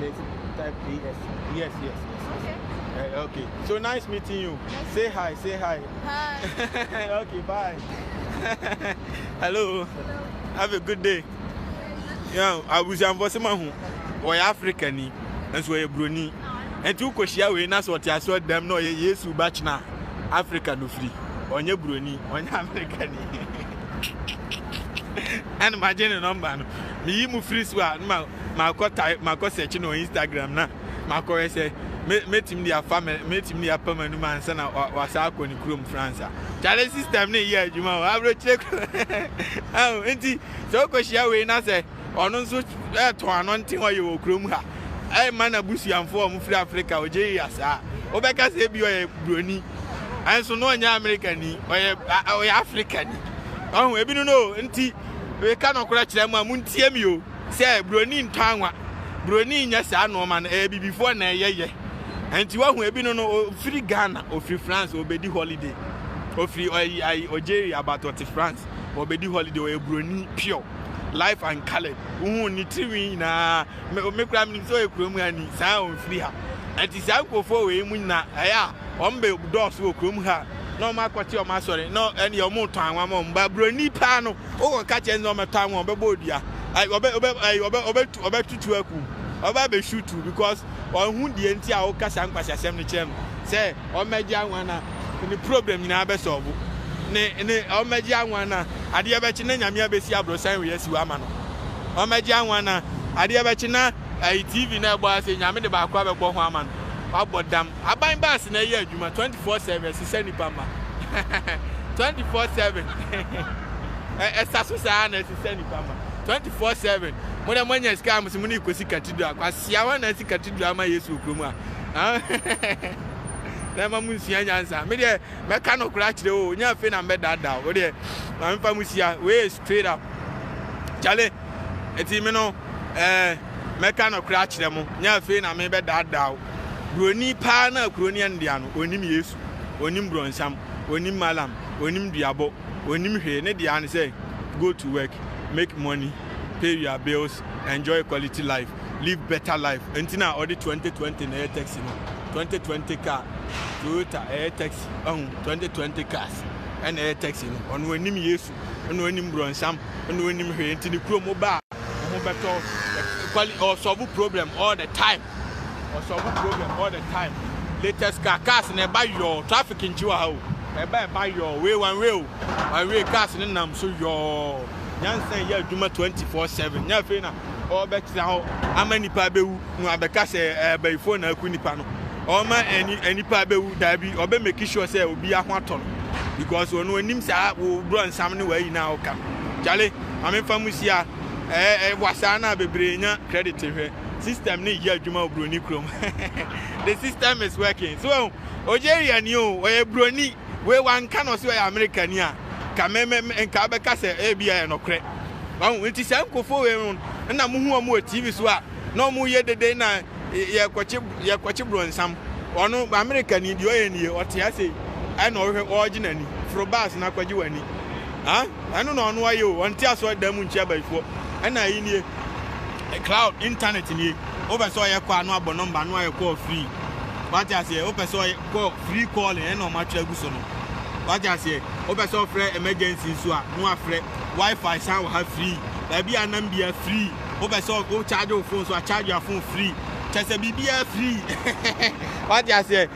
There's type AS. Yes, yes, yes. Okay. Uh, okay. So nice meeting you. Nice say hi, say hi. Hi. okay, bye. Hello. Hello. Have a good day. Yeah, abusuafo sɛ ma ho wɔyɛ africa ni nso wɔyɛ buroni nti wokɔhyia wei na sɛ ɔte aso dɛm na ɔyɛ yesu ba kyena africa no firi ɔnyɛ buroni ɔnyɛ africa ni ɛna magye ne nɔmba no meyi mu firi so a makɔ tae makɔ sɛkye no wɔ Instagram na makɔ hwɛ sɛ me metumi de afa me metumi de apam anum ansa na wasa akɔ ne kurom France a kyale system ne yɛ adwuma wɔ aburokyire kɔ awo nti sɛ okɔ hyia wei na sɛ ɔno nso ɛtɔn ano nte hɔ yɛ wɔ kurom ha ɛyɛ ma na busuanfo a wɔn firi Africa ɔgye yɛ saa wobɛka sɛ ebi ɔyɛ buroni ɛnso no ɔnyɛ America ni ɔyɛ ɔyɛ Africa ni ɔho ebi no no nti weka no kora kyerɛ mu a muntie mi o. sɛ broni ntɔ anwa, broni nyɛ saa nnoɔma no, ɛyɛ abibifoɔ na ɛyɛ yɛ. Ɛnti wahu ebi no no, ofiri Ghana, ofiri France, obedi holiday. Ofiri ɔyi ayi Algeria, but ɔte France, obedi holiday, ɔyɛ broni pure, life and colored. Wohu ne tirinwi nyinaa, me me kura menim sɛ ɔyɛ kurom ha ni, saa ɔmfiri ha. Ɛnti saa nkurɔfoɔ wei mu nyina ɛyɛ a, wɔn bɛ dɔɔso wɔ kurom ha, na wɔn akɔte wɔn asɔre, na ɛneɛ wɔn tɔ anwa ma wɔn, but broni paa no, Wokɔka kyerɛ no sɛ ɔmmɛtɔn wo a, ɔbɛbɔ wo dua. Ɛɛ, ɔbɛ, ɔbɛ, ɛɛ, ɔbɛ, ɔbɛtu, ɔbɛtutu wo akum. Ɔbɛba abɛhwiw to wo because ɔnhu deɛ nti a woka saa nkwaseasɛm no kyerɛ no sɛ ɔmmɛgye anwa no a, ne problem nyinaa bɛsɔlvo. Ne, ne, ɔmmɛgye anwa no a, adeɛ bɛkye na Nyame abɛsi aborɔsan wei asi hɔ ama no. Ɔmmɛgye anwa no a, adeɛ bɛkye na, ɛɛ, TV no a ɛbɔ ha sei, Nyame de baako abɛbɔ ho ama no. Wabɔ dam. Aban bus na ɛyɛ adwuma twenty four seven ɛsesa nnipa mma twenty four seven ɛsa so saa na ɛsesa nnipa mma twenty four seven mo na mo anya sika mo si mo ne kosi cathedral kwasia wɔn na ɛsi cathedral ama yesu wɔ kurom a na ɛma mo nsua nyansa me deɛ mɛka no koraa kyerɛ o nya afei na mbɛdaadaa o deɛ maame fa mo sia wei Fade up. Charlie, enti me no eh, mɛka nɔkorɛ akyerɛ mo, nyɛ afei na me bɛdaadaa wo. Buroni paa no a kuro no yɛ no dea no, ɔnnim Yesu, ɔnnim brɔnsam, ɔnnim Mallam, ɔnnim duabɔ, ɔnnim hwee, ne dea ne sɛ, go to work, make money, pay your bills, enjoy quality life, live better life, enti na ɔde 2020 na ɛyɛ taxi no, 2020 car, Toyota ɛyɛ taxi, wahu, 2020 cars ɛna ɛyɛ taxi no, ɔno ɔnnim Yesu. ɛna ɔnim brɔnsam ɛna ɔnim hwee nti ne kurom woba a wo ho bɛtɔ quali ɔsɔbo problem all the time ɔsɔbo problem all the time latest car cars na ɛba yɔɔ traffic nkyi wɔ ha o ɛba ɛba yɔɔ wei one way o one way cars ne nam so yɔɔ nyansa yɛ adwuma 24/7 nyɛ afei na ɔbɛtena hɔ ama nipa bɛwu no abɛka sɛ abayifo na aku nipa no ɔma nipa bɛwu daabi ɔbɛ make sure sɛ obi aho atɔ no because ɔno anim saa wo brɔ nsam ne wayi na ɔka kyale mamemfa mu sia ɛɛ wasaa na bebree nya credit hwɛ system ne yɛ adwuma wɔ broni kurom the system is working so oh, Algeria ni o ɔyɛ broni wei wanka na ɔsɛ ɔyɛ America ni a ka mɛmɛ nka bɛka sɛ ebi ayɛ nɔkorɛ ɔho nti saa nkofo wei no na mo ho wɔn wɔ TV so a na ɔmo yɛ dede na yɛkɔkye yɛkɔkye bronsam ɔno America ni deɛ ɔyɛ nie ɔte ase yi ɛna ɔhwɛ ɔɔgye n'ani foro bus na kɔgye w'ani ah ɛno na ɔno ayɛ o ɔnte asɔre dan mu nkyia abayifoɔ ɛna ayi nie cloud internet nie wopɛ sɛ ɔyɛ kɔ a no abɔ nɔmba no ayɛ kɔɔ free wate aseɛ wopɛ sɛ ɔyɛ kɔ free calling ɛna ɔmo atwerɛ agu so no wate aseɛ wopɛ sɛ ɔfrɛ emergency nso a no afrɛ wifi san wɔ ha free baabi a nam bia free wopɛ sɛ wo charge wo phone so a charge your phone free kyɛ sɛ biribiara free wate aseɛ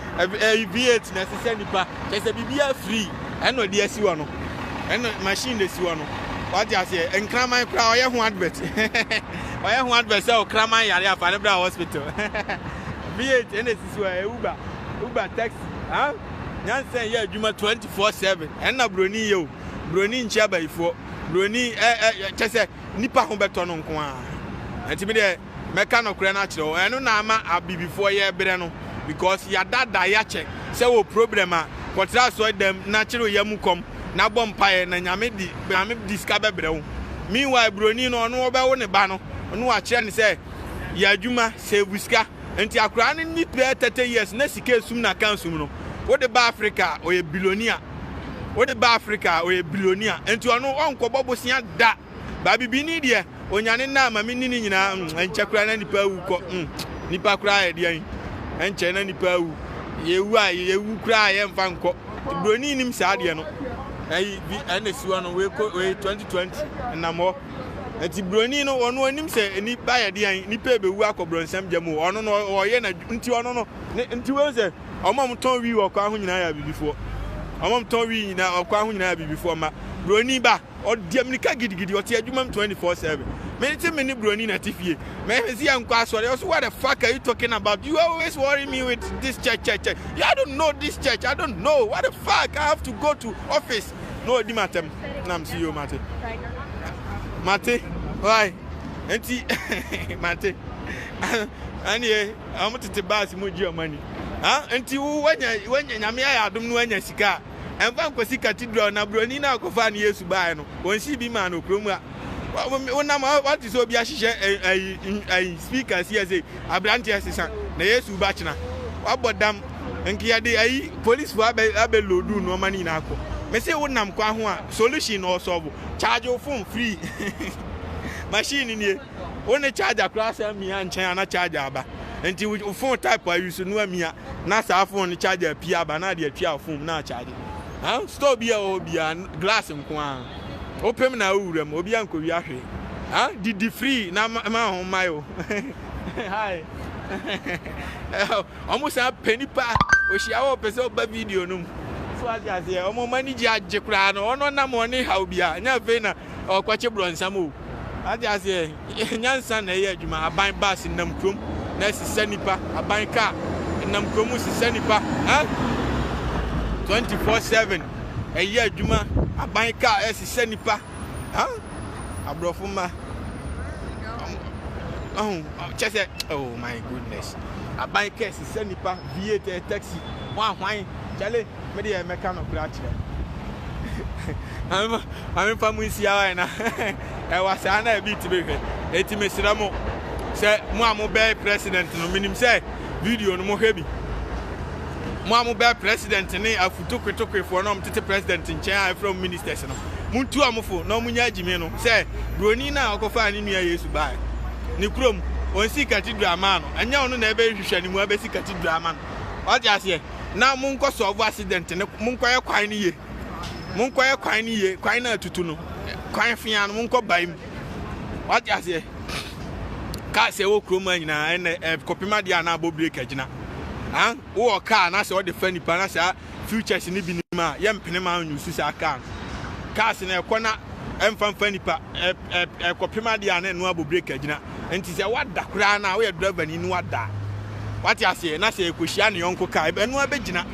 v8 na ɛsesɛ nnipa kyɛ sɛ biribiara free ɛna ɔde asi hɔ no ɛna machine de si hɔ no wate aseɛ nkraman koraa ɔyɛ ho advert ɔyɛ ho advert sɛ ɔkraman yare afa ne bra hospital v8 ɛna ɛsisi hɔ ɛyɛ uber uber taxi ha nyansa yɛ adwuma 24/7 ɛna buroni yɛ o buroni nkyia bayifoɔ buroni ɛ ɛ kyɛ sɛ nnipa ho bɛtɔ no nko ara. Ɛnti me deɛ mɛka nɔkorɛ no akyerɛ wo. Ɛno na ama Abibifoɔ yɛɛbrɛ no because yɛadaadaa yɛakyɛ sɛ wɔ problem a kɔtra asɔredam na kyere wo yam kɔm na bɔ mpaeɛ na Nyame de Nyame de sika bɛbrɛ wo. Meanwhile Buroni no ɔno ɔbɛwo ne ba no na wakyerɛ no sɛ yɛ adwuma save sika. Nti akoraa no nni bɛɛ thirty years na sika esum no aka sum no wode ba Africa a ɔyɛ billionaire wode ba Africa a ɔyɛ billionaire nti ɔno ɔnkɔbɔ bosea da ba bibini deɛ onyane nna ma menni ne nyinaa mm ɛnkyɛ koraa na nipa awu kɔ mm nipa koraa yɛ deɛ ɛnkyɛ na nipa awu yɛwu a yɛwu koraa a yɛmfa nkɔ buroni nim saa deɛ no ɛyi bi ɛna si hɔ no wei kɔ wei 2020 nnamɔ Enti broni no ɔno onim sɛ ni ba yɛ deɛn nipa ebewu akɔ bronsam gya mu o ɔno no ɔyɛ na nti ɔno no ne nti wɔn sɛ ɔmo a ɔmo tɔn wii wɔ kwan ho nyinaa yɛ abibifoɔ ɔmo a ɔmo tɔn wii nyinaa ɔkwan ho nyinaa yɛ abibifoɔ ma broni ba ɔdi amirika gidigidi ɔte adwuma mu 24 seven mene te mene broni na te fie mɛhwɛ si yɛ nkɔ asɔre ɔso what the fuck are you talking about you always worry me with this church church church you I don't know this church I don't know what the fuck I have to go to office. na ɔdi m'atɛm na mese yoo mate mate wai nti mate ɛneɛ ɔmo tete baase mu gye ɔmo ani nti wanya wanya nyame ayɛ adom no wanya sika a ɛmfa nkɔsi cathedral na buroni no akɔfa ne yesu baeɛ no wɔnsi bi maa no kurom a Wonam a wate sɛ obi ahyehyɛ ayi ayi speaker si ase abranteɛ sesa na yesu ba kyena wabɔ dam nka yɛde ayi police fo abɛ abɛ lodu nneɛma no nyinaa kɔ mese wonam kwa ho a solution na ɔsɔbo charge wo phone free machine nie wo ne charger koraa sɛ mmea nkyɛn ana charger aba nti wo phone type ayi so no amia na saa phone no charger pia aba na ade atwia wo phone na charge Huh? Store biaa ɛwɔ hɔ biaa glass nkoaa wopem na wo wura mu obiaa nkowia hwee huh? Didi free na ma ho mmae o Hi Ɔmo san pɛ nipa ohyia wɔ ɔpɛ sɛ ɔba video no mu so ate aseɛ ɔmo ɔmo ani gye agye koraa no ɔno nam ɔne haw biaa nyɛ afei na ɔkɔkye brɔnsam o ate aseɛ. Nyansa na ɛyɛ adwuma. Aban bus nenam kurom na ɛsesa nnipa. Aban car nenam kurom resesa nnipa. Ɛ? Twenty four seven ɛyɛ adwuma. Aban car ɛresesa nnipa. Ɛ? Aborɔfo mma. Ɔho, kyɛ sɛ, oh my goodness. Aban car ɛsesa nnipa. V8 taxi, hwan hwan, kyale. Me deɛ mɛka nokorɛ akyerɛ no. Maame fa mu nsi ara na ɛwa saa na ebi ti bɛhwɛ. Eti mesrɛ mo sɛ mo a mobɛyɛ president no menim sɛ video no mohwɛ bi. Mo a mobɛyɛ president ne afutokwetokwefoɔ na wɔtete president nkyɛn a ɛfrɛ mo ministers no, montu wɔn fo na wɔnyɛ agyimi no sɛ buroni no a ɔkɔfaa ne nua Yesu baeɛ ne kurom ɔnsi cathedral maa no, ɛnyɛ ɔno na ɛbɛhwehwɛ ne mu abɛsi cathedral ama no. Wate aseɛ? na monkɔ sɔɔvo accident no monkɔyɛ kwan no ye monkɔyɛ kwan no ye kwan no atutu no kwan fea no monkɔ bae mu wate aseɛ kaa sɛ wɔ kurom a nyinaa ɛnɛ eh, kɔpem adeɛ a na abɔ break agyina ah, wowɔ kaa na sɛ wɔde fa nipa na saa futures no bi nim a yɛmpene ma nyusu saa kaa no cars no ɛkɔ na ɛmfa mfa nipa ɛkɔpem adeɛ a na ɛno abɔ break agyina Nti sɛ wada koraa no a, woyɛ drɛvani na wada a, wate aseɛ, na sɛ ɛkɔhyia ne yɔnko kaa, ɛno ara bɛgyina.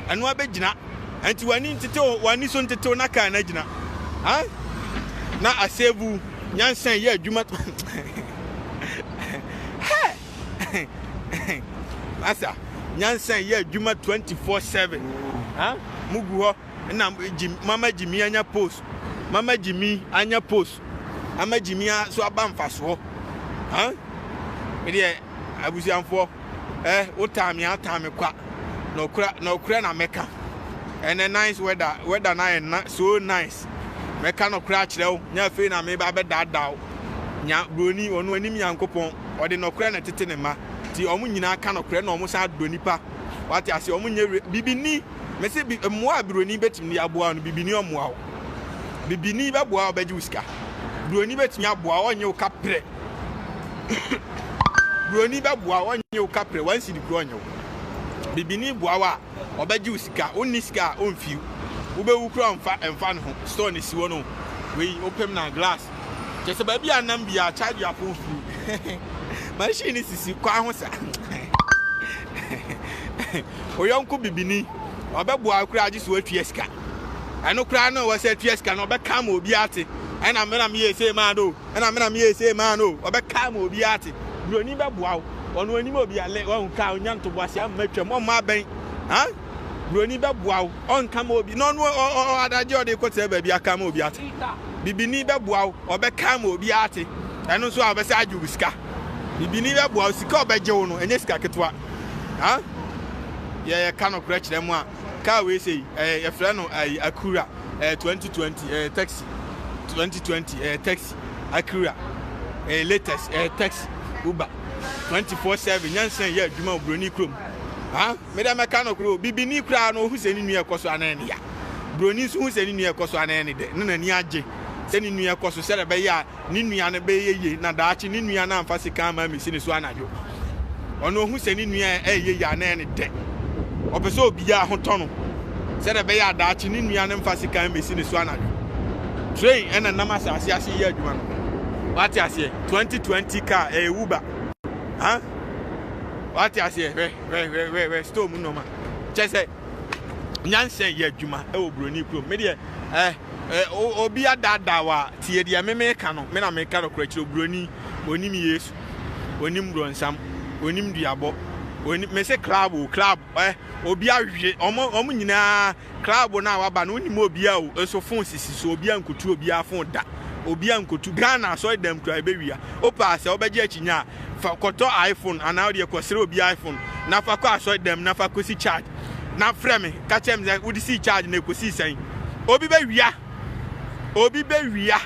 Ɛno ara bɛgyina. Nti w'ani ntetew, w'ani so ntetew na kaa no agyina. Huh? Na asevu, nyansa yi yɛ adwuma. Hey! Masa, nyansa yi yɛ adwuma 24/7. Huh? Mugu hɔ, na Jim, Mama Jimmy anya post. Mama Jimmy anya post. ama gyimi a so aba mfasoɔ ha medeɛ abusuafoɔ ɛ eh, wotaa me ataa me kwa na ɔkura na ɔkura na mɛka ɛnɛ nice weather weather na yɛ na so nice mɛka na ɔkura akyerɛ wo nyɛ afei na meba bɛdaadaa wo nya buroni ɔno anim nyankopɔn ɔde na ɔkura na tete ne ma ti ɔmo nyinaa ka na ɔkura na ɔmo san adɔ nipa wate ase ɔmo nyɛ bibi ni Mese bi mmoa a buroni bɛtumi de aboa wo no bibini ɔmmoa wo. Bibini bɛboa wo bɛgye wo sika. Buroni bɛtumi aboa wo ɔnye wo kaprɛ. buroni bɛboa wo ɔnye wo kaprɛ wansi de kuro ɔnye wo. Bibini boa wo a ɔbɛgye wo sika wonni sika a ɔmfiw wobɛwu kura mfa mfa ne ho store ne si hɔ no wei wopem na glass kyɛ sɛ baabi a nam biara charge your phone free machine sisi kwan ho sa wo yɔnko bibini ɔbɛboa wo koraa gye sɛ woatua sika ɛno koraa na ɔwɔ sɛ atua sika no ɔbɛka ma obi ate ɛna me na meyɛ sei maa no ɛna me na meyɛ sei maa no ɔbɛka ma obi ate buroni bɛboa wo ɔno anim obi ale ɔhu ka ɔnya ntoboase ama atwam ɔmma abɛn ha buroni bɛboa wo ɔnka ma obi na ɔno adagye ɔde kɔtena baabi aka ma obi ate bibini bɛboa wo ɔbɛka ma obi ate ɛno nso a ɔbɛsɛ agye wo sika bibini bɛboa wo sika ɔbɛgye wo no ɛnyɛ sika ketewa Ha? Yɛ yɛ ka no korɛ kyerɛ mo a, kaa wei sei, ɛɛ, yɛ frɛ no ayi, akura, ɛɛ, 2020, ɛɛ, taxi, 2020, ɛɛ, taxi, akura, ɛɛ, latest, ɛɛ, taxi, uber, 24-7, nyansan yɛ adwuma wɔ broni kurom. Ha? Me dɛ mɛka no korɛ o, bibini koraa no, ohu sɛ ne nua ɛkɔ so anaa ne ya. Broni nso hu sɛ ne nua ɛkɔ so anaa ne dɛ, ne n'ani agye sɛ ne nua ɛkɔ so sɛdeɛ ɛbɛyɛ a ne nua no bɛyɛ yiye na daakye ne nua no amfa sika amma ammesi ne so anadwo. Ɔno ohu sɛ ne nua a ɛreyɛ yie anaa ɛyɛ ne dɛ. Ɔpɛ sɛ obiara ho tɔ no sɛnea ɛbɛyɛ a daakye ne nua no mfa sika mmesi ne so anadwo. Train na ɛnam asase ase reyɛ adwuma no. Wate aseɛ? 2020 kaa ɛyɛ Uber. Ha? Wate aseɛ? Hwɛ, hwɛ, hwɛ, hwɛ, hwɛ, store mu nneɛma. Kyɛ sɛ, nyansa yɛ adwuma wɔ buroni kurom me deɛ ɛɛ obi adaadaa wa tie deɛ me meka no me na meka no korɛ kyerɛ buroni onim yesu onim bronsam onim duabɔ onim me se club o club ɛ obi ahwe ɔmo ɔmo nyinaa club no a waba no onim obi a o nso fon sisi so obi a nkotu obi a fon da obi a nkotu ghana asɔre dɛm kura ebewia opaa sɛ ɔbɛgye akyinya Fa kɔtɔ iPhone anaa wo deɛ kɔsrɛ obi iPhone na fa kɔ asɔredam na fa kɔsi charge na frɛ me ka kyerɛ me sɛ wode sii charge na ɛkɔsii sɛn. Obi bɛwia, obi bɛwia,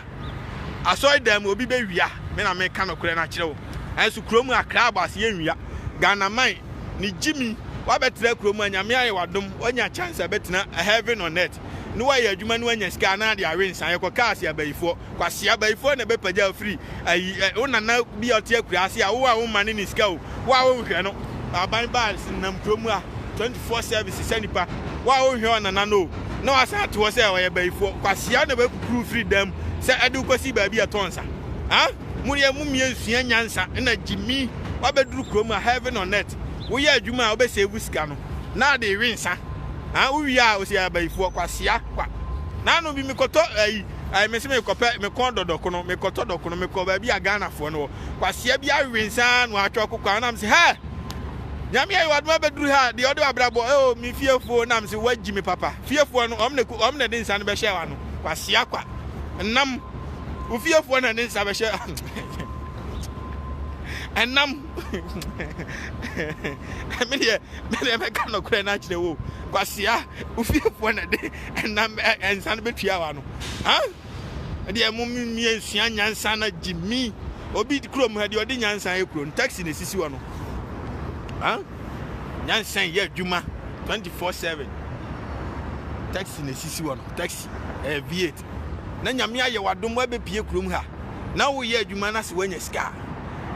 asɔredam mu obi bɛwia, me na meka nokorɛ no akyerɛ wo. Nanso kuro mu a crabas yɛnwia. Ghanaman ne gyimi, woabɛtra kuro mu a Nyame ayɛ wo adom woanya chance a bɛtena heaven on earth na woayɛ adwuma na woanya sika anaa de awe nsa yɛkɔ cars yɛ abayifoɔ. Kwasea, bayifoɔ na bɛpagya wo firi ayi ɛ, wo nana bi a ɔte akuraase a wo a wo mma ne ne sika o, wo a wo nhwɛ no. Aban bars nenam kuro mu a 24 service sɛ nipa, wo a wo nhwɛ ɔnana no o, na wasan ato hɔ sɛ ɔyɛ bayifoɔ. Kwasea na bɛkukuru wo firi dan mu sɛ ɛde wo kɔsi baabi a ɛtɔ nsa. Ha? Mo deɛ mo mmea nsua nyansa na gyimi wabɛduru kuro mu a heaven on earth, wo yɛ adwuma a wo bɛ save sika no na ade rewe nsa, ha? Wo wie a wo sɛ yɛyɛ abayifoɔ. Kwasea kwa. Nanom bi me kɔtɔ ayi. Ae mese mekɔpɛ mekɔn dɔ dɔkono mekɔtɔ dɔkono mekɔ baabi a Ghanafoɔ no wɔ kwasea bi awewe nsaa no atwa ɔkokɔ a nam se hɛ nyame ayɛ wadoma bɛduru ha deɛ ɔde wabrabɔ ɛo me fiefoɔ nam se wagyi me papa fiefoɔ no ɔm na ku ɔm na de nsa no bɛhyɛ wa no kwasea kwa nam wo fiefoɔ na de nsa bɛhyɛ ɛnam medeɛ medeɛ mɛka nɔkorɛ no akyerɛ wo kwasea wo fiefoɔ na de nam ɛ nsa no bɛtua wa no ha ɛdeɛ mo mmea nsua nyansa na gye mi obi kurom ha deɛ ɔde nyansa yɛ kuro no taxi na esisi hɔ no ha nyansa yɛ adwuma 24/7 taxi na esisi hɔ no taxi ɛyɛ v8 na nyame ayɛ wadom wabɛpie kurom ha na woyɛ adwuma no ase woanya sika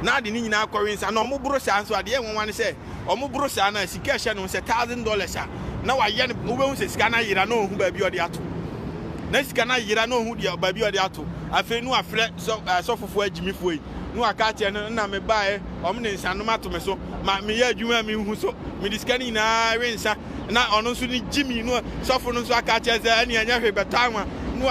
na ade ne nyinaa kɔwe nsa na ɔmoboro saa nso adeɛ nwanwa ne sɛ wɔn boro saa no a sika a ɛhyɛ ne ho sɛ thousand dollars a na wayɛ no wobɛhu sɛ sika no ayera na ɔhu baabi a ɔde ato na sika no ayera na ɔhu deɛ baabi a ɔde ato afei no afrɛ sɔfofoɔ eh, agyimifoɔ yi na waka akyerɛ no na mebaeɛ ɔm de nsanom ato me so ma meyɛ adwuma a menhu so mede sika no nyinaa we nsa na ɔno nso ne gyimi no sɔfo no nso aka akyerɛ sɛ ɛne ɛnyɛ hwe bɛtɔ anwa no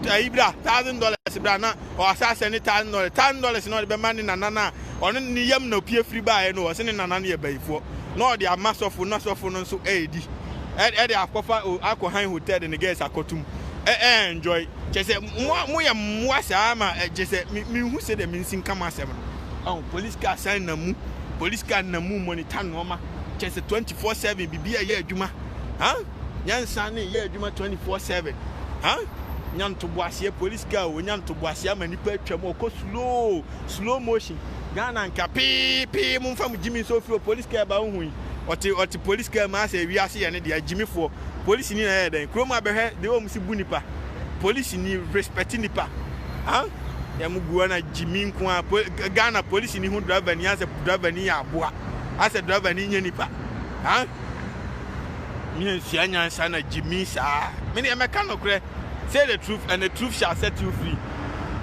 ayi bra thousand dollars bra na ɔwɔ asaase ne thousand dollars thousand dollars na ɔde bɛma ne nana no a ɔno ne ne yam na opie firi baeɛ no ɔse ne nana no yɛ bayifoɔ na ɔde ama sɔfo na sɔfo no nso ɛredi ɛde akɔfa akɔ han hotel de ne girls akɔtum ɛɛnjɔy kyɛ sɛ moyɛ mmoa saa ma kyɛ sɛ menhu sɛ deɛ mensi nka mo asɛm no police car san na mu police car na mu monitor nnoɔma kyɛ sɛ 24/7 biribi a ɛyɛ adwuma nyansa ne yɛ adwuma 24/7 ha nya ntoboaseɛ police car o nya ntoboaseɛ ama nipa atwa mu ɔkɔ slow slow motion Ghana nka pee pee mo nfa mo gyimi nso fi o police car ba ohu yi ɔte ɔte police car mu asɛ ewi ase yɛ ne deɛ gyimifoɔ police ni na ɛyɛ dɛn kurom abɛhwɛ de wɔn si bu nipa police ni respect nipa ha yɛ mo guo na gyimi nko a Ghana police ni ho driver ni asɛ driver ni yɛ aboa asɛ driver ni nyɛ nipa ha. Miennsua nyansa na gyimii saa. Me deɛ mɛka nokorɛ say the truth and the truth shall set you free.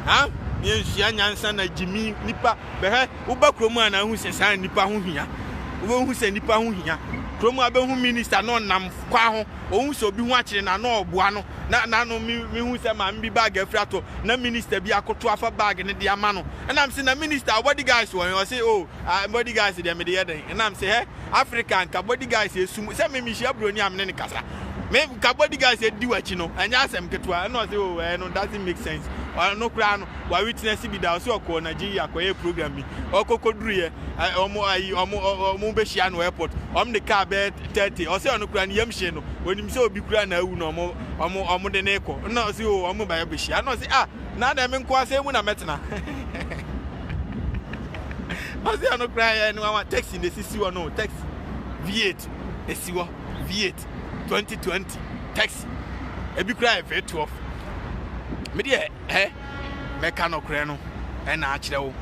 Ha? Miennsua nyansa na gyimii nipa bɛhwɛ woba kurom a na ahu sɛ saa nipa ho hia. Wobɛhu sɛ nipa ho hia. Kurom a bɛhu minister na ɔnam kwan ho ɔhu sɛ obi ho akyere na na ɔboa no na na no me mehu sɛ maame bi bag afiri atɔ na minister bi akoto afa bag no de ama no. Ɛnam se na minister body guys wɔ he ɔse oh ah body guys deɛ mede yɛ dɛn ɛnam se hɛ Africa nka body guys esum sɛ me mehyia broni a me ne no kasa me nka body guys edi w'akyi no ɛnyɛ asɛm ketewa ɛna ɔsɛ o ɛɛ no doesn't make sense ɔno koraa no wa witness bi da ɔsɛ ɔkɔɔ Nigeria kɔyɛ program bi ɔkɔkɔduruyɛ ɔmo ayi ɔmo ɔmo bɛhyia no airport ɔmo de car bɛɛ tɛɛte ɔsɛ ɔno koraa no yam hyee no onim sɛ obi koraa na awu na ɔmo ɔmo ɔmo de ne kɔ ɛna ɔsɛ o ɔmo ba yɛ bɛhyia ɛna ɔsɛ ah na dɛn me nkoa sɛn mu na mɛtena ɔsi ɛno kura yɛ ne wawa taxi na esisi hɔ no taxi v8 esi hɔ v8 2020 taxi ebi kura yɛ v12 me deɛ ɛ mɛka nɔkorɛ no ɛna akyerɛ wo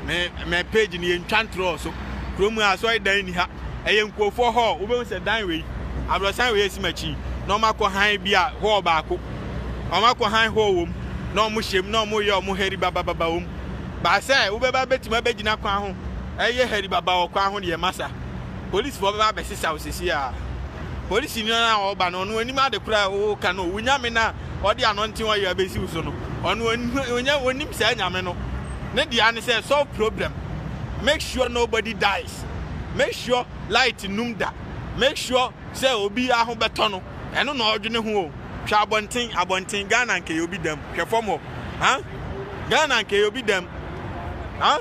me me page no yɛntwa ntorɔ so kurom a asɔre dan ni ha ɛyɛ nkurɔfoɔ hɔ wobɛhu sɛ dan wei abrɔsan wei esi m'akyi na ɔmakɔ han bi a hɔ baako wɔn akɔhan hɔɔ wɔ mu, na wɔhyɛ mu, na wɔyɛ wɔn haribabababa wɔ mu. Ba sɛ wobɛba abɛtumi abɛgyina kwan ho reyɛ haribaba wɔ kwan ho deɛ, masa. Polisfoɔ bɛba abɛsesa wo seesei ara. Polisini no a ɔreba no, ɔno ɔnim ade koraa a woreka no, wo nyame no a ɔde anɔnten ɔyɛ abɛsi wo so no, ɔno ɔnyɛ, ɔnim saa nyame no. Ne dea ne sɛ, solve problem, make sure nobody dies, make sure light nnum da, make sure sɛ obiara ho bɛtɔ no, ɛno na ɔdwene ho o. Hwɛ abɔnten abɔnten Ghana nka ɛyɛ obi dɛm hwɛ fam hɔ ha Ghana nka ɛyɛ obi dɛm ha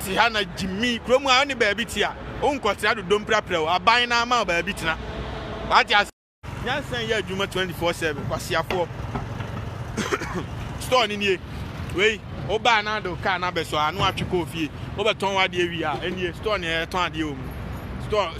te ha na gyimi kurom a ɔne baabi te a wonkɔtra dodom prapra o aban na ama baabi tena wate ase nyansa yɛ adwuma 24/7 kwasiafoɔ store ne nie wei wobaa na ade kaa na bɛsɔ ano atwe kɔɔ fie wobɛtɔn wadeɛ wie a ɛnie store ne ɛtɔn adeɛ wɔ mu store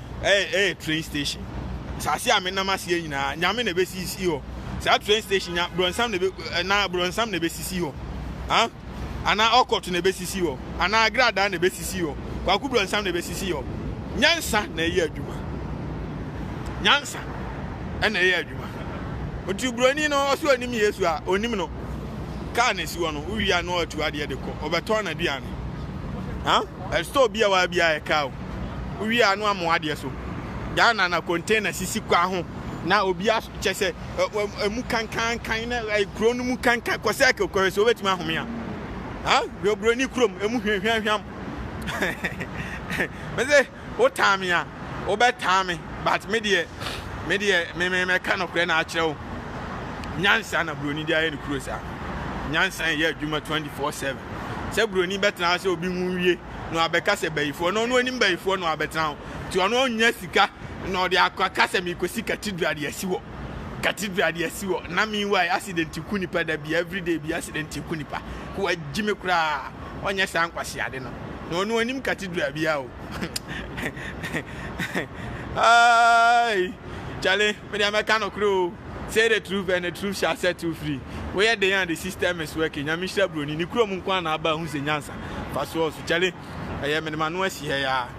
ɛyɛ ɛyɛ train station saase a menam aseɛ nyinaa nyame na ɛbɛsisi hɔ saa train station nya brɔnsam na ɛbɛ eh, na brɔnsam na ɛbɛsisi hɔ ha anaa ɔkɔto na ɛbɛsisi hɔ anaa agradaa na ɛbɛsisi hɔ kwaku brɔnsam na ɛbɛsisi hɔ nyansa na ɛyɛ adwuma nyansa ɛna ɛyɛ adwuma nti buroni no ɔsɛ onim yesu a onim no kaa na esi hɔ no wowia na ɔatu adeɛ de kɔ ɔbɛtɔn na duane ha ɛstɔ bi a waa bi a ɛka o Wowie a na wɔamoa adeɛ so. Ghana na container sisi kwan ho na obi a kyɛ sɛ ɛmu kankankan na kuro no mu kankan kɔ sɛ kɔhwɛ sɛ wobɛtumi ahome a. Ha Broni kurom ɛmu hwehwɛhwɛm. Mese wotaa me a wobɛtaa me but me deɛ me deɛ me me mɛka nokorɛ na akyerɛ wo. Nyansa na Broni de ayɛ ne kuro saa. Nyansa yɛ adwuma 24/7. Sɛ Broni bɛtena sɛ obi ho wie. na wabɛka sɛ bayifoɔ na ɔno anim bayifoɔ na wabɛtena hɔ nti ɔno ɔnya sika na ɔde akɔka sɛ mekɔsi cathedral de asi hɔ cathedral de asi hɔ na meanwhile accident ku nipa da bi everyday bi accident ku nipa ko wagyi me koraa ɔnyɛ saa nkwaseade no na ɔno anim cathedral bia o ai kyale mede amɛka nɔkorɛ o say the truth and the truth shall set you free woyɛ den a the system is working nyame hyira buroni ne kurom nko a na aba ho sɛ nyansa Fa soɔ nso kyale ɛyɛ mede m'ano asi ha yi ara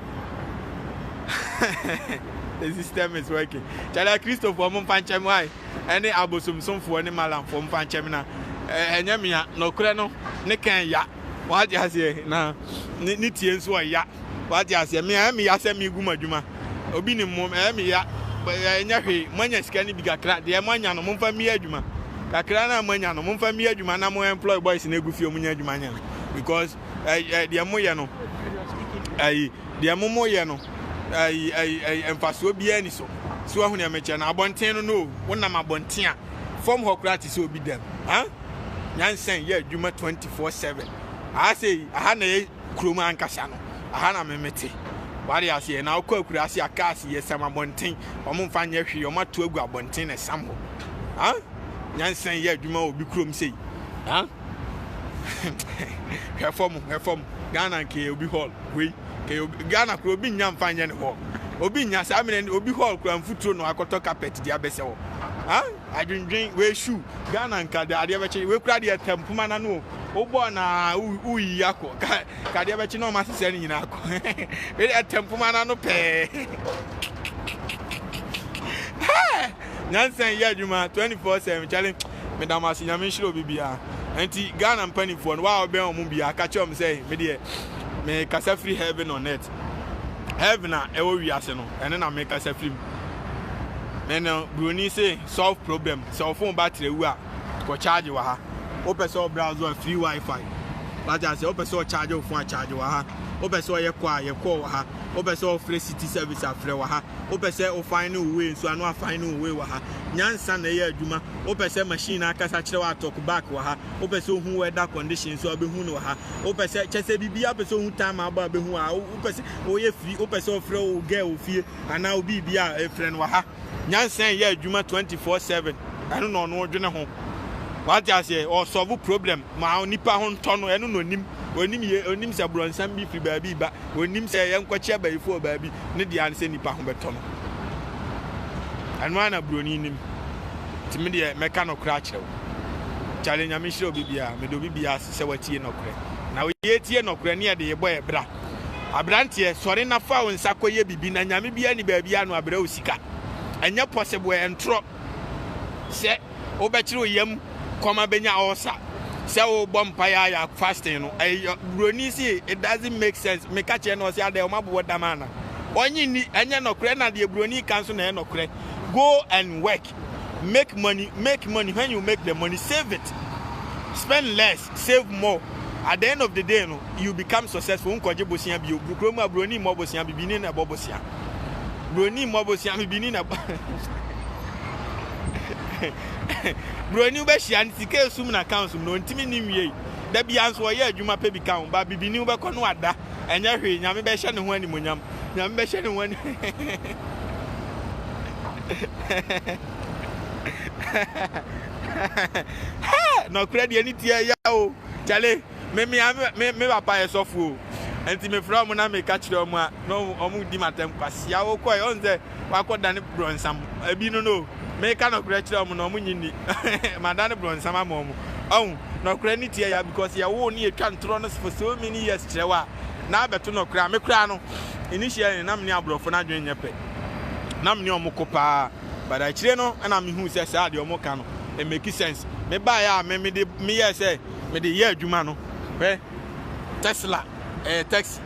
the system is working kyale akristofoɔ mo mfa nkyɛm wae ɛne abosomsomfoɔ ne malamfoɔ mo mfa nkyɛm na ɛnyɛ mea nɔkorɛ no ne kan ya wagye aseɛ na ne tie nso ɔya wagye aseɛ mea ɛyɛ meya sɛ megu m'adwuma obi ne mmom ɛyɛ meya ɛnyɛ hwee moanya sika no bi kakra deɛ moanya no momfa mmeyɛ adwuma kakra no a moanya no momfa mmeyɛ adwuma na mo employ boys no agu fie ɔmo nya adwuma nyɛ because ɛyi eh, ɛyi eh, deɛ mo yɛ no ɛyi deɛ mo mo yɛ no ɛyi ɛyi ɛyi mfasoɔ biara ni so so ahu deɛ mekyɛ no abɔnten no no wonam abɔnten a fam hɔ koraa te sɛ obi dɛm ha nyansan yɛ adwuma twenty four seven aha sɛ aha na yɛ kurom ankasa no aha na memete wade aseɛ na wokɔ akura ase a cars yɛ sam abɔnten wɔn mfa nyɛ hwee wɔn ato agu abɔnten na sam hɔ ha nyansan yɛ adwuma wɔ bi kurom sei ha. hwɛ fam hwɛ fam ghana nka yɛ obi hall wei nka yɛ obi ghana kura obi nya nfa nyɛ ne hall obi nya saa mene obi hall kura nfuturo na wakɔtɔ carpet de abɛsɛ hɔ ha adwendwen wei shoe ghana nka de adeɛ bɛkye wei kura deɛ tɛm poma na no o bɔɔ na woyi akɔ ka ka adeɛ bɛkye na ɔma sesɛ ne nyinaa akɔ wei deɛ tɛm poma na no pɛɛ nyansa yɛ adwuma 24/7 challenge meda mo ase nyame nhyira obi biaa ɛnti Ghana mpaninfoɔ no waa wobɛn ɔmo biaa ka kyerɛ ɔmo sɛ me deɛ me kasa firi heaven on earth heaven a ɛwɔ wiase no ɛno na me kasa firi mu me no broni se solve problem sɛ ɔfon battery awu a kɔ charge wɔ ha wopɛ sɛ ɔbrowse a free wifi wate ase wopɛ sɛ ɔcharge wo fon a charge wɔ ha wopɛ sɛ ɔyɛ kɔ a yɛ kɔ wɔ ha wopɛ sɛ ɔfrɛ city service a frɛ wɔ ha wopɛ sɛ wo fine ne wo way nso a na wafine ne wo way wɔ ha. Nyansa na ɛyɛ adwuma. Wopɛ sɛ machine no ankasa kyerɛ wo a talk back wɔ ha. Wopɛ sɛ ohu weather condition nso a obehu no wɔ ha. Wopɛ sɛ kyɛ sɛ biribiara wopɛ sɛ ohu time a abɔ a obehu wɔ ha. Wopɛ sɛ woyɛ free wopɛ sɛ ɔfrɛ wo girl wɔ fie anaa wo biribi a frɛ no wɔ ha. Nyansa ɛyɛ adwuma twenty four seven. Ɛno na ɔno dwene ho. Wate aseɛ ɔsɔvo problem ma onipa ho ntɔ no ɛno na onim. Onim yɛ onim sɛ brɔnsam bi firi baabi reba. wɔnnim sɛ yɛnkɔkyea bayifo wɔ baabi ne dea ne sɛ nnipa ho bɛtɔ no. Ɛno ara na buroni nim. Nti me deɛ mɛka nɔkorɛ akyerɛ wo. Kyale Nyame nhyira obi biara, meda obi biara ase sɛ watie nɔkorɛ. Na yɛtie nɔkorɛ ne yɛde yɛbɔ yɛ bra. Abranteɛ sɔre na fa wo nsa kɔyɛ bibi na Nyame biara nni baabi a no abrɛ wo sika. Ɛnyɛ possible, ɛntorɔ. Sɛ wobɛkyere wo yam kɔm abɛnya ɔɔsa sɛ wobɔ mpaeɛ a yɛ fasting no ɛyɛ buroni si it doesn't make sense meka kyerɛ no ɔsɛ adɛ wɔn abobɔ dam ana ɔnye ni ɛnyɛ nɔkorɛ na deɛ buroni ka nso na ɛyɛ nɔkorɛ go and work make money make money when you make the money save it spend less save more, at the end of the day no you become successful wo nkɔgye bosea bio, brukuro mu a broni mmɔ bosea bibini na ɛbɔ bosea, broni mmɔ bosea bibini na ɛbɔ broni wobɛhyia no sika esum na accounts mu na ɔntumi ne nwiei da bia nso ɔyɛ adwuma pɛ bi ka ho ba bibini wobɛkɔ no ada ɛnyɛ hwee nyame bɛhyɛ ne ho animonyam nyame bɛhyɛ ne ho animonyam hɛɛ nɔkorɛ deɛ ne tiɛ ya o kyale me mea me me papa yɛ sɔfo o nti mefrɛ ɔmo na meka kyerɛ ɔmo a na ɔmo di matam kwasia wo kɔɛ ɔn sɛ wakɔ dane brɔnsam ebi no no meka nɔkorɛ kyerɛ ɔmo na ɔmo nyi ni madane brɔnsam ama ɔmo ɔn nɔkorɛ ne tiɛ ya because yɛwo ne yɛtwa ntorɔ no for so many years kyerɛ wa na abɛto nɔkorɛ a me koraa no initially na me ne aborɔfo no adwene nyɛ pɛ na me ne ɔmo ko paa But akyire no na me huu sɛ saa deɛ ɔmo ka no ɛmeki sense. Me baeɛ a me mede me yɛɛ sɛ mede yɛ adwuma no hwɛ Tesla ɛyɛ taxi.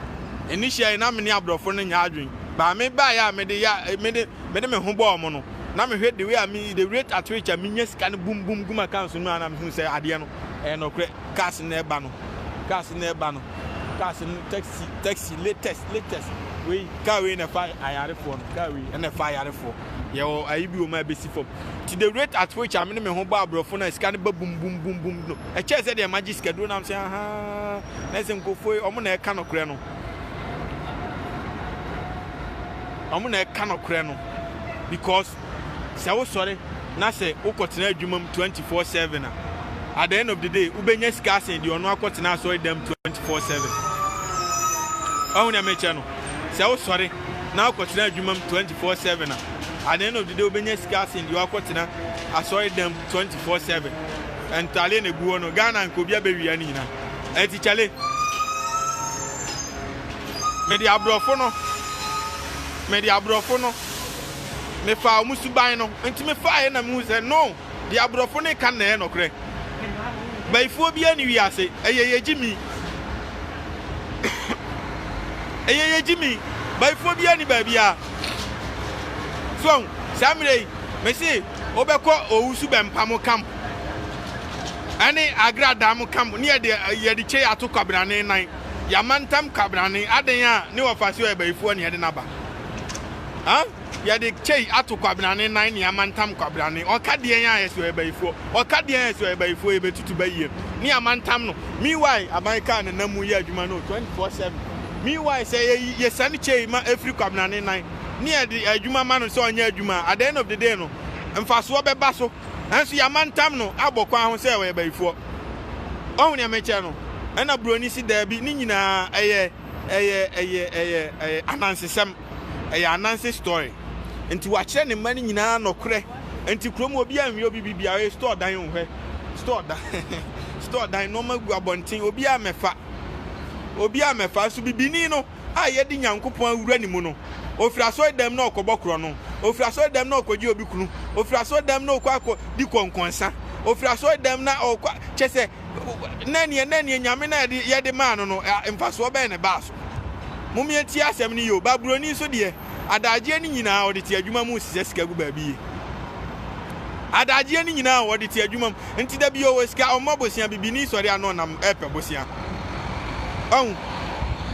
Initially na me ne abrɔfo no nyɛ adwene but me baeɛ a mede yɛ mede mede me ho bɔɔ ɔmo no na me hwɛ the way a me the rate at which a me nya sika no boom boom gu m'accounts no mu a na me huu sɛ adeɛ no ɛyɛ nɔkorɛ. Cars no ɛba no cars no ɛba no cars no taxi taxi latest latest wei car wei na ɛfa ayarefoɔ no car wei ɛna ɛfa ayarefoɔ yɛwɔ ayi bi wɔ mu a ɛbɛsi fam ti the rate at which a mene me ho bɔ aborɔfo na sika no ba bum bum bum bum no ɛkyɛɛ sɛ deɛ magye sika duro nam sɛ ahaa na ɛsɛ nkurɔfoɔ yi ɔmo na ɛka nokorɛ no ɔmo na ɛka nokorɛ no because Sɛ wosɔre na sɛ wokɔtena adwuma mu twenty four seven a, at the end of the day, wobɛnya sika asen deɛ ɔno akɔtena asɔredan mu twenty four seven. Wahu deɛ mekyɛ no? Sɛ wosɔre na wokɔtena adwuma mu twenty four seven a, at the end of the day, wobɛnya sika asen deɛ wakɔtena asɔredan mu twenty four seven. Ntadeɛ na egu hɔ no, Ghana nka obi abɛwia ne nyinaa. Ɛti kyale. Mede aborɔfo no, mede aborɔfo no Mefaa wɔn suban no nti mefaeɛ na mehuu sɛ no, deɛ aborɔfo no reka no na ɛyɛ nɔkorɛ. Bayifoɔ biara nni wiase, ɛyɛ yɛ gyimi. ɛyɛ yɛ gyimi. Bayifoɔ biara nni baabiara. So ahu, saa mmerɛ yi, mese wobɛkɔ owusu bɛmpamo camp ɛne agra dam camp ne yɛde yɛde kyɛ yɛato kwabrane nan, yɛamantam kwabrane, adɛn a ne wɔfa so yɛ bayifoɔ ne yɛde no aba. Huh? Yɛde kyei ato kwabenane nan ne amantam kwabenane. Ɔka deɛn a yɛsɛ ɔyɛ bayifoɔ. Ɔka deɛn a yɛsɛ ɔyɛ bayifoɔ. Yɛbɛtutu bayie ne amantam no. Meanwhile, aban kaa ne nam mu yɛ adwuma no 24/7. Meanwhile, sɛ yɛyi yɛsane kyei ma ɛfiri kwabenane nan ne yɛde adwuma ma no sɛ ɔnyɛ adwuma a, at the end of the day no, mfasoɔ bɛba so. Nanso yɛamantam no abɔ kwan ho sɛ ɔyɛ bayifoɔ. Wahu deɛ mekyerɛ no? Ɛna buroni se daabi, ne nyinaa ɛyɛ. Ɛyɛ ɛyɛ ɛyɛ ɛyɛ anansesɛm. Ɛyɛ ananse story. Nti wakyerɛ ne mma no nyinaa nɔkorɛ. Nti kurom hɔ obiara nhwɛ obi biribiara. Ɔyɛ store dan o hwɛ. Store dan store dan nnoɔma gu abɔnten obiara mmɛfa. Obiara mmɛfa. Nso bibini no a yɛde Nyankopɔn awura ne mu no, ɔfiri asɔredam na ɔrekɔbɔ korɔno. Ɔfiri asɔredam na ɔrekɔgye obi kunu. Ɔfiri asɔredam na ɔrekɔ akɔdi kɔnkɔnsa. Ɔfiri asɔredam na ɔrekɔ a kyerɛ sɛ, na ɛneɛ na ɛneɛ Nyame na yɛde yɛde maa no no ɛ mfasoɔ bɛn na ɛbaa so? Mom yɛntie asɛm no yie o, Baburoni nso deɛ adagyeɛ no nyinaa ɔde te adwuma mu nsesɛ sika gu baabi yie. Adagyeɛ no nyinaa o, ɔde te adwuma mu. Nti da bi ɔwɔ sika ɔmmɔ bosea, bibini sɔre a na ɔnam ɛpɛ bosea. Ɔhu?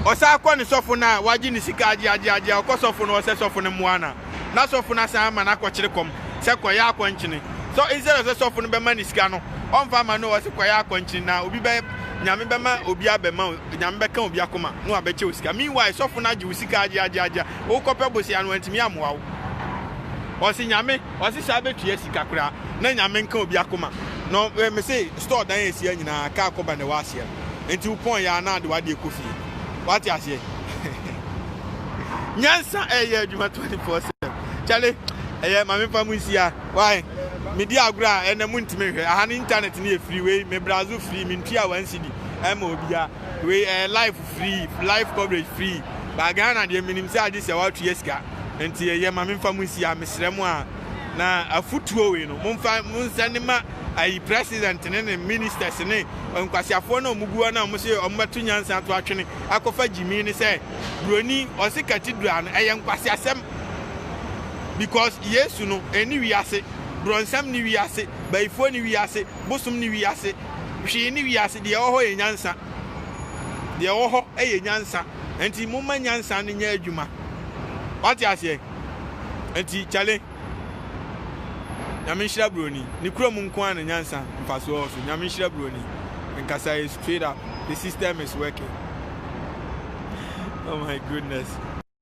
Ɔsan kɔ ne sɔfo no a wagye ne sika agye agye agye a ɔkɔ sɔfo no ɔsɛ sɔfo no mmoa no a, na sɔfo no asan ama no akɔkyere kɔm sɛ kɔyɛ akɔnkyene. So instead of sɛ sɔfo no bɛma no sika no, ɔmfa ama no o, ɔse kɔyɛ akɔnkyene na obi bɛ Nyame bɛma obi abɛma o, Nyame bɛka obi akoma na wabɛkyɛ wo sika. Meanwhile, sɔfo no agye wo sika agye agye agye a, wokɔpɛ bosea no wantumi ammoa wo. Ɔse Nyame, ɔse saa bɛtua sika koraa na Nyame nka obi akoma. Na mese store dan a ɛsi ha nyinaa, kaa kɔba na ɛwɔ aseɛ no. Nti wopɔn yɛ a na de w'adeɛ kɔ fie. wate aseɛ nyansa ɛyɛ adwuma 24 sɛ kyale ɛyɛ ma mefa mu nsia wae medi agorɔ a ɛnɛ mu ntumi nhwɛ aha no internet no yɛ firi wei me brazo firi mentua wansi di ɛma obia wei ɛyɛ life free life coverage free ba Ghana deɛ menim sɛ agye sɛ woatua sika nti ɛyɛ ma memfa mu nsia mesrɛ mu a na afotuo wei no momfa monsɛne ma ayi president ne ne ministers ne nkwasiafoɔ no a wɔgu hɔ no a wɔse wɔbɛto nyansa ato atwene akɔfa gyimii no sɛ buroni ɔse cathedral no ɛyɛ nkwasiasɛm because yesu no ɛni wiase brɔnsam ne wiase bayifoɔ ne wiase bosom ne wiase hwee ne wiase deɛ ɛwɔ hɔ yɛ nyansa deɛ ɛwɔ hɔ ɛyɛ nyansa nti momma nyansa no nyɛ adwuma wate aseɛ nti kyale Nyame nhyira broni. Ne kura mu nko ara na nyansa mfasoɔ wɔ so. Nyame nhyira broni. Nkasa yɛ straight up. The system is working. Oh my goodness.